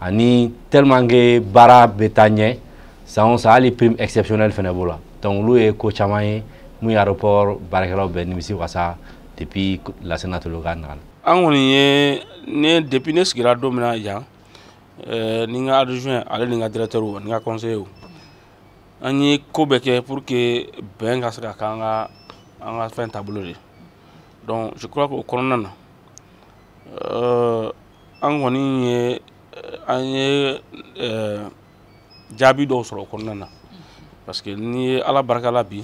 ani tellement que baara bɛ taa ɲɛ san o san hali prime exceptionnelle fɛnɛ b'o la donc olu ye ko caman ye mun ye aéroport baarakɛlaw bɛɛ nimisi wasa depuis Lasina Togola nana an kɔni ye ne depuis ne sigira don min na yan eh, ni n ka adjoint ale ni n ka directeur o ni n ka conseiller o an ye ko bɛɛ kɛ pour que bɛn ka se ka k'an ka an ka fɛn taabolo de donc je crois que o kɔnɔna na euh, an kɔni ye an ye euh, jaabi dɔw sɔrɔ o kɔnɔna na parce que n'i ye ala barika la bi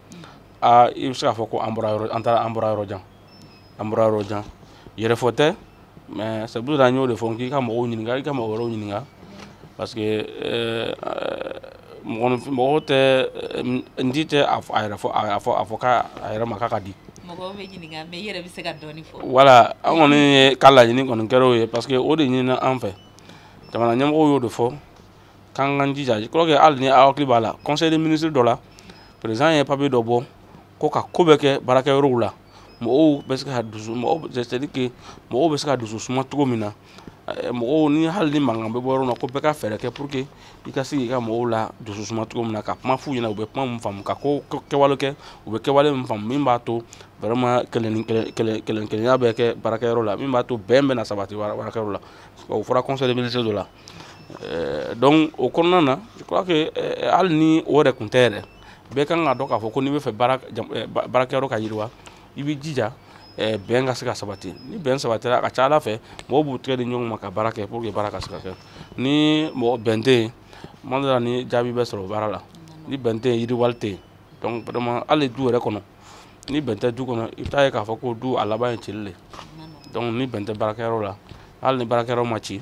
aa i bɛ se k'a fɔ ko an bɔra yɔrɔ an taara an bɔra yɔrɔ jan an bɔra yɔrɔ jan yɛrɛfɔ tɛ mais c'est pour ça n y'o de fɔ k'i ka mɔgɔw ɲininka i ka mɔgɔ wɛrɛw ɲininka parce que eh, mɔgɔ tɛ eh, n di tɛ a yɛrɛ fɔ a fɔ a fɔ k'a a yɛrɛ ma k'a ka di mɔgɔw bɛ ɲininka mais i yɛrɛ bɛ se ka dɔɔni fɔ voilà an kɔni ye ka laɲini kɔni kɛra o ye parce que o de ɲinina an fɛ jamana ɲɛmɔgɔw y'o de fɔ k'an k'an jija je crois que hali ni aw hakili b'a la conseil des ministres dɔ la président ye papier dɔ bɔ ko ka ko bɛɛ kɛ baarakɛyɔrɔw la mɔgɔw bɛ se ka dusu mɔgɔw c'est à dire que mɔgɔw bɛ se ka dusu suma cogo min na eh, mɔgɔw ni hali ni mankan bɛ bɔ yɔrɔ min na ko bɛɛ ka fɛɛrɛ kɛ pour que i ka se k'i ka mɔgɔw la dusu suma cogo min na ka kuma f'u ɲɛna u bɛ kuma min faamu ka ko kɛwale kɛ u bɛ kɛwale min faamu min b'a to vraiment kelen kelen kelen kelenya bɛ kɛ baarakɛyɔrɔ la min b'a to bɛn bɛ na sabati baarakɛyɔrɔ la o fɔra conseil des ministres dɔ la Euh, donc o kɔnɔna na je crois que euh, hali ni o yɛrɛ kun tɛ yɛrɛ bɛɛ kan k'a dɔn k'a fɔ ko n'i b'a fɛ euh, baarakɛyɔrɔ ka yiriwa i b'i jija bɛn ka se ka sabati ni bɛn sabatira a ka ca ala fɛ mɔgɔw b'u tɛgɛ di ɲɔgɔn ma ka baara kɛ pour que baara ka se ka kɛ ni mɔgɔ bɛn tɛ yen tuma dɔ la ni jaabi bɛ sɔrɔ baara la ni bɛn tɛ yen yiriwali tɛ yen donc vraiment hali du yɛrɛ kɔnɔ ni bɛn tɛ du kɔnɔ i bɛ taa ye k'a fɔ ko du a laban ye cili de donc ni bɛn tɛ baarakɛyɔrɔ la hali ni baarakɛyɔrɔ ma ci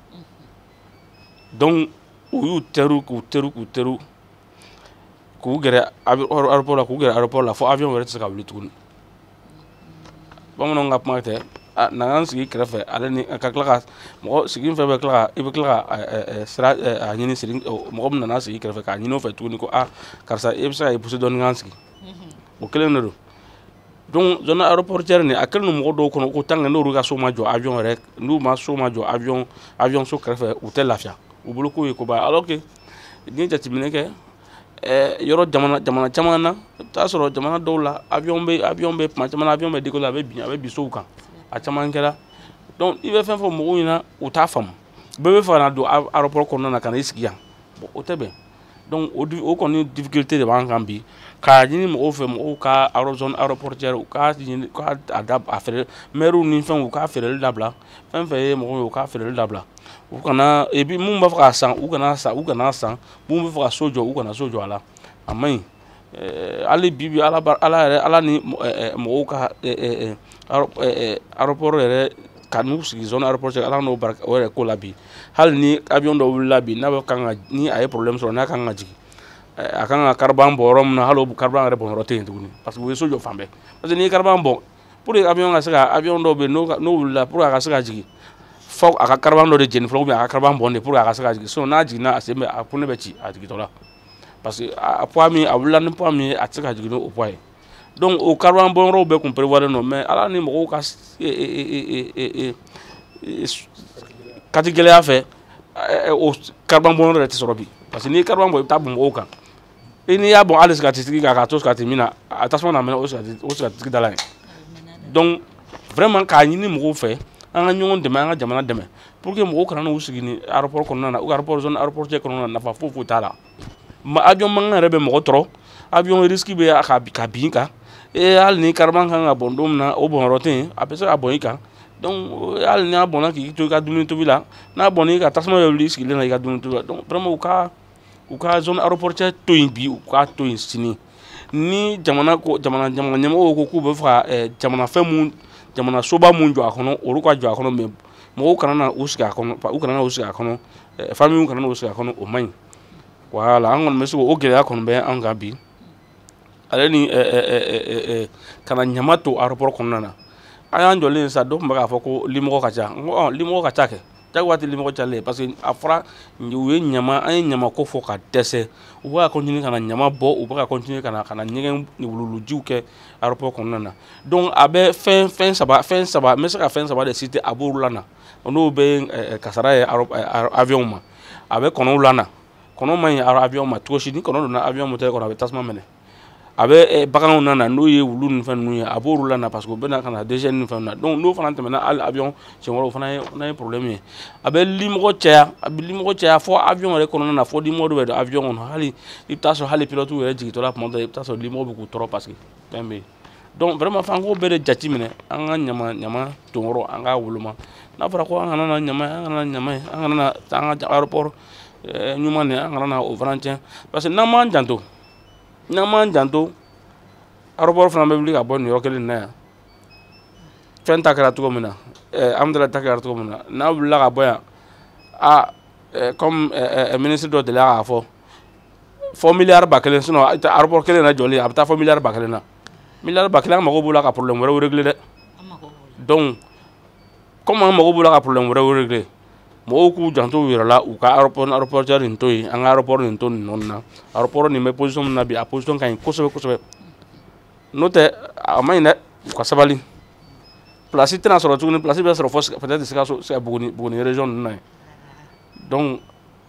donc u y'u terun k'u terun k'u terun k'u gɛrɛ aéroport la k'u gɛrɛ aéroport la fo avion wɛrɛ tɛ se ka wuli tuguni bamananw ka kuma tɛ na an sigi kɛrɛfɛ ale ni ka tila ka mɔgɔ sigi fɛn bɛ tila i bɛ tila ka sira a ɲini siri mɔgɔ min nana sigi kɛrɛfɛ k'a ɲini o fɛ tuguni ko aa karisa i bɛ se ka i pousser dɔɔni k'an sigi o kelen de don donc zone aéroportière nin a kɛlen don mɔgɔ dɔw kɔnɔ ko tant que n'olu ka so ma jɔ avion yɛrɛ n'u ma so ma jɔ avion avion so kɛrɛfɛ u tɛ lafiya u bolo k'o ye koba alors que n'i ye jateminɛ kɛ ɛɛ eh, yɔrɔ jamana jamana caman na i bɛ taa sɔrɔ jamana dɔw la avion bɛ avion bɛ tuma caman na avion bɛ décoller a bɛ bin a bɛ bin sow kan a caman kɛra donc i bɛ fɛn fɔ mɔgɔw ɲɛna u t'a faamu bɛɛ b'a fɛ ka na don aéroport kɔnɔna na ka na i sigi yan bon o tɛ bɛn. donc o o kɔni difficulté de b'an kan bi k'a ɲini mɔgɔw fɛ mɔgɔw ka aéro zone aéroportière u k'a ɲini ka a da a feere mɛriw ni fɛnw u k'a feereli dabila fɛn fɛn ye mɔgɔw ye u k'a feereli dabila u kana et puis minnu b'a fɛ k'a san u kana san u kana san minnu b'a fɛ ka so jɔ u kana so jɔ a la a man ɲi eh, hali bi bi ala ala yɛrɛ ala ni eh, eh, mɔgɔw ka aéroport yɛrɛ ka n'u sigi zone aéroportière ala n'o barika o yɛrɛ ko la bi hali ni avion dɔ wulila bi n'a bɛ kan ka ni a ye problème sɔrɔ n'a kan ka jigin a kan ka carburant bɔn yɔrɔ min na hali o carburant yɛrɛ bɔn yɔrɔ tɛ yen tuguni parce que u ye so jɔ fan bɛɛ parce que n'i ye carburant bɔn pour que avion ka se ka avion dɔw bɛ yen n'o wulila pour que a ka se ka jigin fo a ka carburant dɔ de jeni fɔlɔ ou bien a ka carburant bɔn de pour que a ka se ka jigin sinon n'a jiginna a sen bɛ a pneu bɛ ci a jigintɔla parce que a poids min a wulila ni poids min ye a tɛ se ka jigin ni o poids ye donc o carburant bɔnyɔrɔw bɛɛ tun prévoilen don mais ala ni mɔgɔw ka katigɛlɛya fɛ o carburant bɔnyɔrɔ yɛrɛ tɛ sɔrɔ bi parce que n'i ye carburant bɔ i bɛ taa bɔn mɔgɔw kan i n'i y'a bɔn hali sigatitigi kan k'a to sigati min na a tasuma na mɛnɛ o sigatitigi da la yen donc vraiment k'a ɲini mɔgɔw fɛ an ka ɲɔgɔn dɛmɛ an ka jamana dɛmɛ pour que mɔgɔw kana n'u sigi ni aéroport kɔnɔna na ou aéroport zone aéroportière kɔnɔna na nafa foyi foyi t'a la ma avion mankan yɛrɛ bɛ mɔgɔ tɔɔrɔ avion risque bɛ a ka ka bin kan ee hali ni carburant kan ka bɔn don min na o bɔnyɔrɔ tɛ yen a bɛ se ka bɔn i kan donc hali n'a bɔnna k'i to i ka dumuni tobi la n'a bɔnna i ka tasuma bɛ wuli i sigilen na i ka dumuni tobi la donc vraiment u ka u ka zone aéroportière to yen bi u k'a to yen sini ni jamana ko jamana jamana ɲɛmɔgɔw ko k'u bɛ fɛ ka eh, jamana fɛn mun jamana soba mun jɔ a kɔnɔ olu ka jɔ a kɔnɔ mais mɔgɔw kana na u sigi a kɔnɔ u kana na u sigi a kɔnɔ eh, famille kana na u sigi a kɔnɔ o man ɲi voilà an kɔni bɛ se k'o gɛlɛya kɔni bɛ an kan bi ale ni eh, kana ɲama to aéroport kɔnɔna na an y'an jɔlen sa dɔ tun bɛ k'a fɔ ko limɔgɔ ka ca n ko limɔgɔ ka ca kɛ jagoya tɛ limɔgɔ calen parce que a fɔra u ye ɲama an ye ɲama ko fɔ ka dɛsɛ u bɛ ka continuer ka na ɲama bɔ u bɛ ka continuer ka na ka na ɲɛgɛn wuluwulujiw kɛ aéroport kɔnɔna na donc a bɛ fɛn fɛn saba fɛn saba n bɛ se ka fɛn saba de citer a b'olu lana n'o bɛɛ ye kasara ye eh, avion ma a bɛ kɔnɔw lana kɔnɔ man ɲi avion ma cogo si ni kɔnɔ donna avion moteur kɔnɔ a bɛ tasuma minɛ a bɛ eh, baganw nana n'o ye wulu ni fɛn ninnu ye a b'olu lana parce que u bɛ na ka na déchets ni fɛnw na donc n'o fana tɛmɛna hali avion siɲɛ wɛrɛ o fana ye fana ye problème ye a bɛ limɔgɔ caya a bɛ limɔgɔ caya fo avion yɛrɛ kɔnɔna na fo limɔgɔ dɔ bɛ don avion kɔnɔ hali i bɛ taa sɔrɔ hali pilote yɛrɛ jigintɔ la tuma dɔ la i bɛ taa sɔrɔ limɔgɔ bɛ k'u tɔɔrɔ parce que fɛn bɛ yen donc vraiment f'an k'o bɛɛ de jate minɛ an ka ɲama ɲama ton yɔrɔ an k'a woloma n'a fɔra ko an kana na ɲama ye an kana na ɲama ye an kana na an ka aéroport eh, ɲuman de an kana na o fana tiɲɛ parce que n'an m'an janto n'an m'an janto aéroport fana bɛ wuli ka bɔ nin yɔrɔ kelen na yan fɛn ta kɛra cogo min na eh, Hamdallaye ta kɛra cogo min na n'a wulila ka bɔ yan a eh, comme eh, ministre dɔ delila k'a fɔ fo miliyari ba kelen sinon aéroport kelen na jɔli a bɛ taa fo miliyari ba kelen na miliyari ba kelen an mago b'o la ka problème wɛrɛw régler dɛ donc comme an mago b'o la ka problème wɛrɛw régler mɔgɔw k'u janto u yɛrɛ la u ka aéroport aéroportière nin to yen an ka aéroport nin to nin nɔ na aéroport nin bɛ position min na bi a position ka ɲi kosɛbɛ kosɛbɛ n'o tɛ a man ɲi dɛ u ka sabali place tɛna sɔrɔ tuguni place bɛ sɔrɔ fo peut-être sikaso buguni buguni région ninnu na yen donc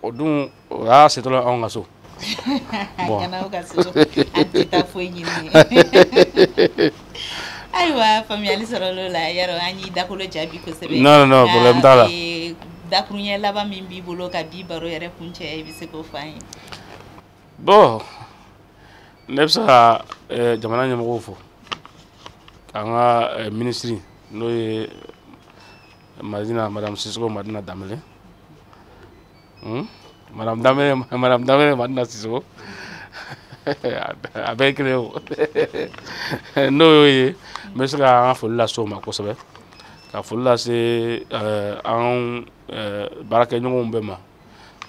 o dun o y'a setɔla anw ka so ayiwa faamuyali sɔrɔla o la Yaro an y'i dakolo ja bi kosɛbɛ non non problème t'a la dakuruɲɛ laban min b'i bolo ka bi baro yɛrɛ kuncɛ i bɛ se k'o fɔ an ye bon ne bɛ se ka eh, jamana ɲɛmɔgɔw fo k'an ka eh, ministre n'o ye Madina, Madame Sissoko, Madina Dembélé. Hmm? Madame Dembélé, Madame Dembélé, Madina Sissoko. a bɛɛ kelen o n'o y'o ye n bɛ se ka an ka foli lase o ma kosɛbɛ ka foli lase an baarakɛɲɔgɔnw bɛɛ ma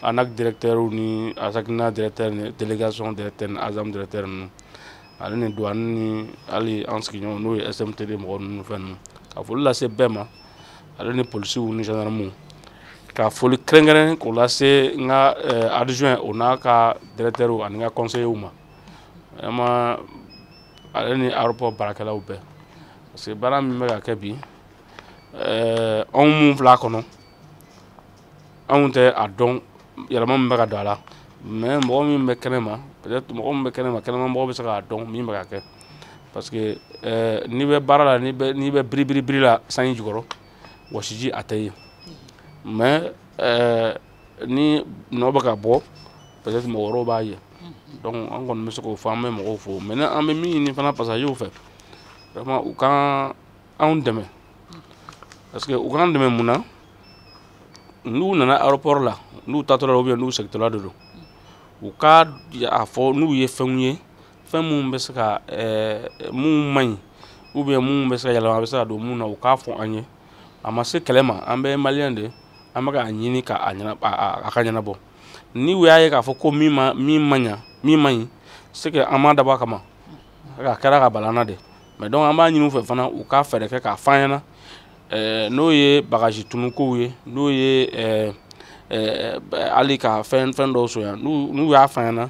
ANAC directeurs ni ASECNA directeurs ni délégation directeurs ni ASAM directeurs ninnu ale ni duwani ni hali an sigiɲɔgɔn n'o ye smtd mɔgɔ ninnu fɛn ninnu ka foli lase bɛɛ ma ale ni polisiw ni gendarmew ka foli kɛrɛnkɛrɛn k'o lase n ka eh, adjoint o n'a ka directeurw ani n ka conseillerw ma vraiment ale ni aéroport baarakɛlaw bɛɛ parce que baara min bɛ ka kɛ bi eh, anw minnu fil'a kɔnɔ anw tɛ a dɔn yɛlɛma min bɛ ka don a la mais mɔgɔ min bɛ kɛnɛ ma mɔgɔ min bɛ kɛnɛ ma kɛnɛma mɔgɔ bɛ se k'a dɔn min bɛ ka kɛ parce que eh, n'i bɛ baara la n'i bɛ biribiribiri la sanji jukɔrɔ wɔsiji a tɛ ye mais eh, ni nɔ bɛ ka bɔ peut être mɔgɔ wɛrɛw b'a ye donc an kɔni bɛ se k'o fɔ an bɛ mɔgɔw fo mais ni an bɛ min ɲini fana passagerw fɛ vraiment u k'anw dɛmɛ parce que u k'an dɛmɛ mun na n'u nana aéroport la n'u taatɔla ou bien n'u segintɔla de don u ka a fɔ n'u ye fɛnw ye fɛn minnu bɛ se ka eh, minnu man ɲi ou bien minnu bɛ se ka yɛlɛma a bɛ se ka don minnu na u k'a fɔ an ye a ma se kɛlɛ ma an bɛɛ ye maliyɛn de an bɛ k'a ɲini ka a ɲɛna a ka ɲɛnabɔ ni u y'a ye k'a fɔ ko min ma min ma ɲa min man ɲi c'est que an m'a dabɔ a kama a kɛra ka bal'an na de mais donc an b'a ɲini u fɛ fana u ka fɛɛrɛ kɛ k'a f'an ɲɛna eh, n'o ye bagaji tununkow ye n'o ye eh, eh, hali ka fɛn fɛn dɔw sonya n'u y'a f'an ɲɛna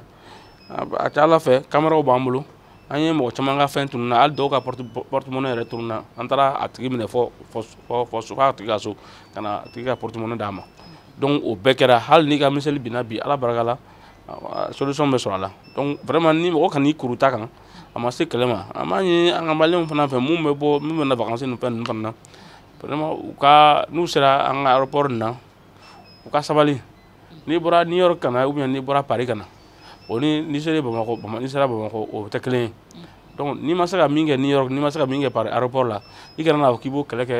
a ka ala fɛ kameraw b'an bolo an ye mɔgɔ caman ka fɛn tununna hali dɔw ka porte-monnaie yɛrɛ tununna an taara a tigi minɛ fo fo a tigi ka so ka na a tigi ka porte-monnaie d'a ma donc o bɛɛ kɛra hali n'i ka miseli binna bi ala barika la solution bɛ sɔrɔ a la donc vraiment ni mɔgɔ kan'i kuru ta kan a ma se kɛlɛ ma an b'a ɲini an ka maliyɛnw fana fɛ minnu bɛ bɔ minnu bɛ na vakansi ninnu fɛn ninnu fana na vraiment u ka n'u sera an ka aéroport nin na u ka sabali n'i bɔra new york ka na ou bien n'i bɔra paris ka na o ni n'i sera bamakɔ bama n'i sera bamakɔ o tɛ kelen ye donc n'i ma se ka min kɛ new york n'i ma se ka min kɛ paris aéroport la i kana n'a fɔ k'i b'o kɛlɛ kɛ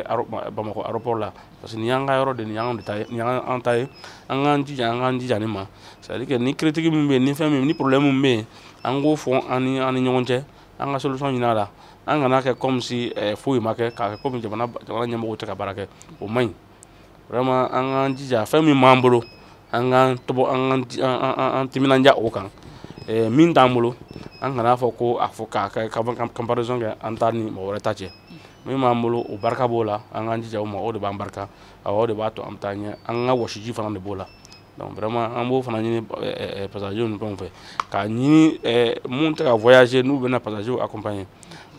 bamakɔ aéroport la parce que nin y'an ka yɔrɔ de nin y'an de ta ye nin y'an an ta ye an k'an jija an k'an jija nin ma c'est à dire que ni critique min bɛ yen ni fɛn min ni problème min bɛ yen an k'o fɔ an ni an ni ɲɔgɔn cɛ an ka solution ɲin'a la an kan'a kɛ comme si eh, foyi ma kɛ k'a kɛ comme jamana jamana ɲɛmɔgɔw tɛ ka baara kɛ o man ɲi vraiment an k'an jija fɛn min b'an bolo an k'an tɔbɔ an k'an an timinanja o kan eh, min t'an bolo an kana fɔ ko a fɔ k'a kɛ ka comparaison kɛ an ta ni mɔgɔ wɛrɛ ta cɛ min b'an bolo o barika b'o la an k'an jija o ma o de b'an barika awɔ o de b'a to an bɛ taa ɲɛ an ka wɔsiji fana de b'o la donc vraiment an b'o fana ɲini pasaziw ni fɛnw fɛ k'a ɲini minnu tɛ ka voyager n'u bɛna pasaziw accompagner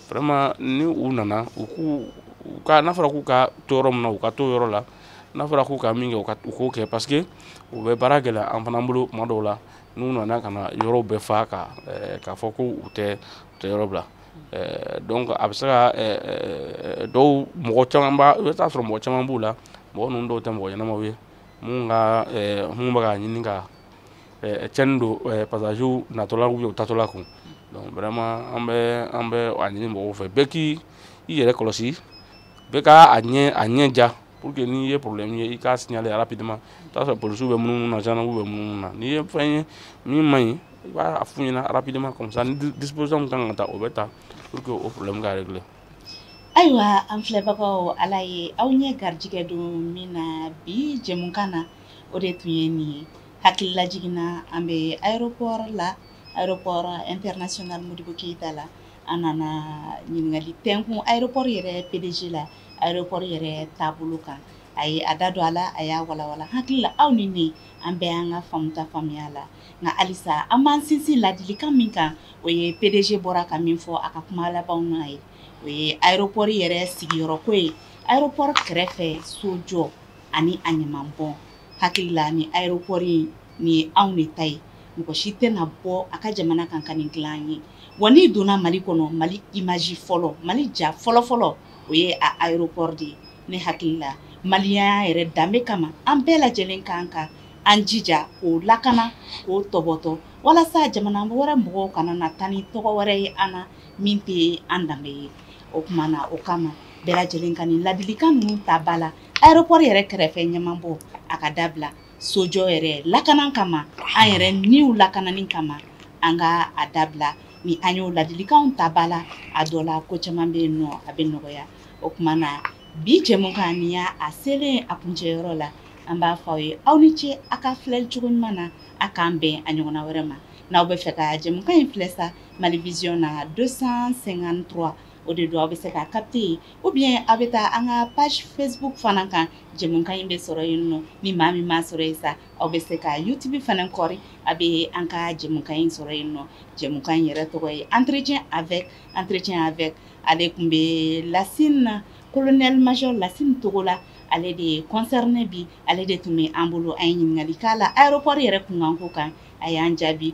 vraiment ni u nana u k'u u ka n'a fɔra k'u ka to yɔrɔ min na u ka to yɔrɔ la n'a fɔra k'u ka min kɛ u ka u k'o kɛ parce que u bɛ baara gɛlɛya an fana bolo tuma dɔw la n'u nana ka na yɔrɔw bɛɛ fa ka k'a fɔ ko u tɛ u tɛ yɔrɔ bila donc a bɛ se ka dɔw mɔgɔ caman b'a i bɛ taa sɔrɔ mɔgɔ caman b'u la mɔgɔ ninnu dɔw tɛ mɔgɔ ɲɛnamaw ye minnu ka minnu bɛ k'a ɲini ka cɛnni don pasaziw natɔlaw ou taatɔla kun donc vraiment an bɛ an bɛ a ɲini mɔgɔw fɛ bɛɛ k'i i yɛrɛ kɔlɔsi bɛɛ ka a ɲɛ a ɲɛ ja pour que n'i ye problème ye i k'a signaler rapidement i t'a sɔrɔ polisiw bɛ munumunu na gendarmew bɛ munumunu na n'i ye fɛn ye min man ɲi i b'a f'u ɲɛna rapidement comme ça ni disposition min kan ka ta o bɛ ta pour que o problème ka régler ayiwa an filɛbagaw ala ye aw ɲɛ garijɛgɛ don min na bi jɛmukan na o de tun ye nin ye hakililajigin na an bɛ aéroport la aéroport international Modibo Keyita la an nana ɲininkali tɛnkun aéroport yɛrɛ PDG la aéroport yɛrɛ taabolo kan a ye a da don a la a y'a walanwalan n hakili la aw ni ne an bɛɛ y'an ka faamuta faamuya a la nka halisa an b'an sinsin ladilikan min kan o ye PDG bɔra ka min fɔ a ka kuma labanw na ye o ye aéroport yɛrɛ sigiyɔrɔko ye aéroport kɛrɛfɛ sojɔ ani a ɲamanbɔn n hakili la nin aéroport nin ye anw de ta ye mɔgɔ si tɛna bɔ a ka jamana kan ka nin dilan an ye wa n'i donna mali kɔnɔ mali image fɔlɔ mali ja fɔlɔfɔlɔ o ye a aéroport de ye ne hakili la maliyɛnya yɛrɛ danbe kama an bɛɛ lajɛlen kan ka an jija k'o lakana k'o tɔbɔtɔ walasa jamana wɛrɛ mɔgɔw kana na taa ni tɔgɔ wɛrɛ ye an na min tɛ an danbe ye o tuma na o kama bɛɛ lajɛlen ka nin ladilikan ninnu ta ba la aéroport yɛrɛ kɛrɛfɛ ɲamanbɔn a ka dabila sojɔ yɛrɛ lakana kama an yɛrɛ niw lakanani kama an ka a dabila ni an y'o ladilikanw ta ba la a dɔ la ko caman bɛ yen nɔ a bɛ nɔgɔya o tuma na bi jɛmukan nin y'a selen a kuncɛyɔrɔ la an b'a fɔ aw ye aw ni ce a ka filɛli cogo ɲuman na a k'an bɛn a ɲɔgɔnna wɛrɛ ma n'aw bɛ fɛ ka jɛmukan in filɛ sa mali vision na 253 o de don aw bɛ se k'a capter ou bien a bɛ taa an ka page Facebook fana kan jɛmukan in bɛ sɔrɔ yen nɔ ni maa min m'a sɔrɔ yen sa aw bɛ se ka YouTube fana kɔri a bɛ an ka jɛmukan in sɔrɔ yen nɔ jɛmukan in yɛrɛ tɔgɔ ye entretien avec entretien avec ale tun bɛ Lasina colonel major Lasine Togola ale de ye concerné bi ale de tun bɛ an bolo an ye ɲininkali k'a la aéroport yɛrɛ kunkanko kan a y'an jaabi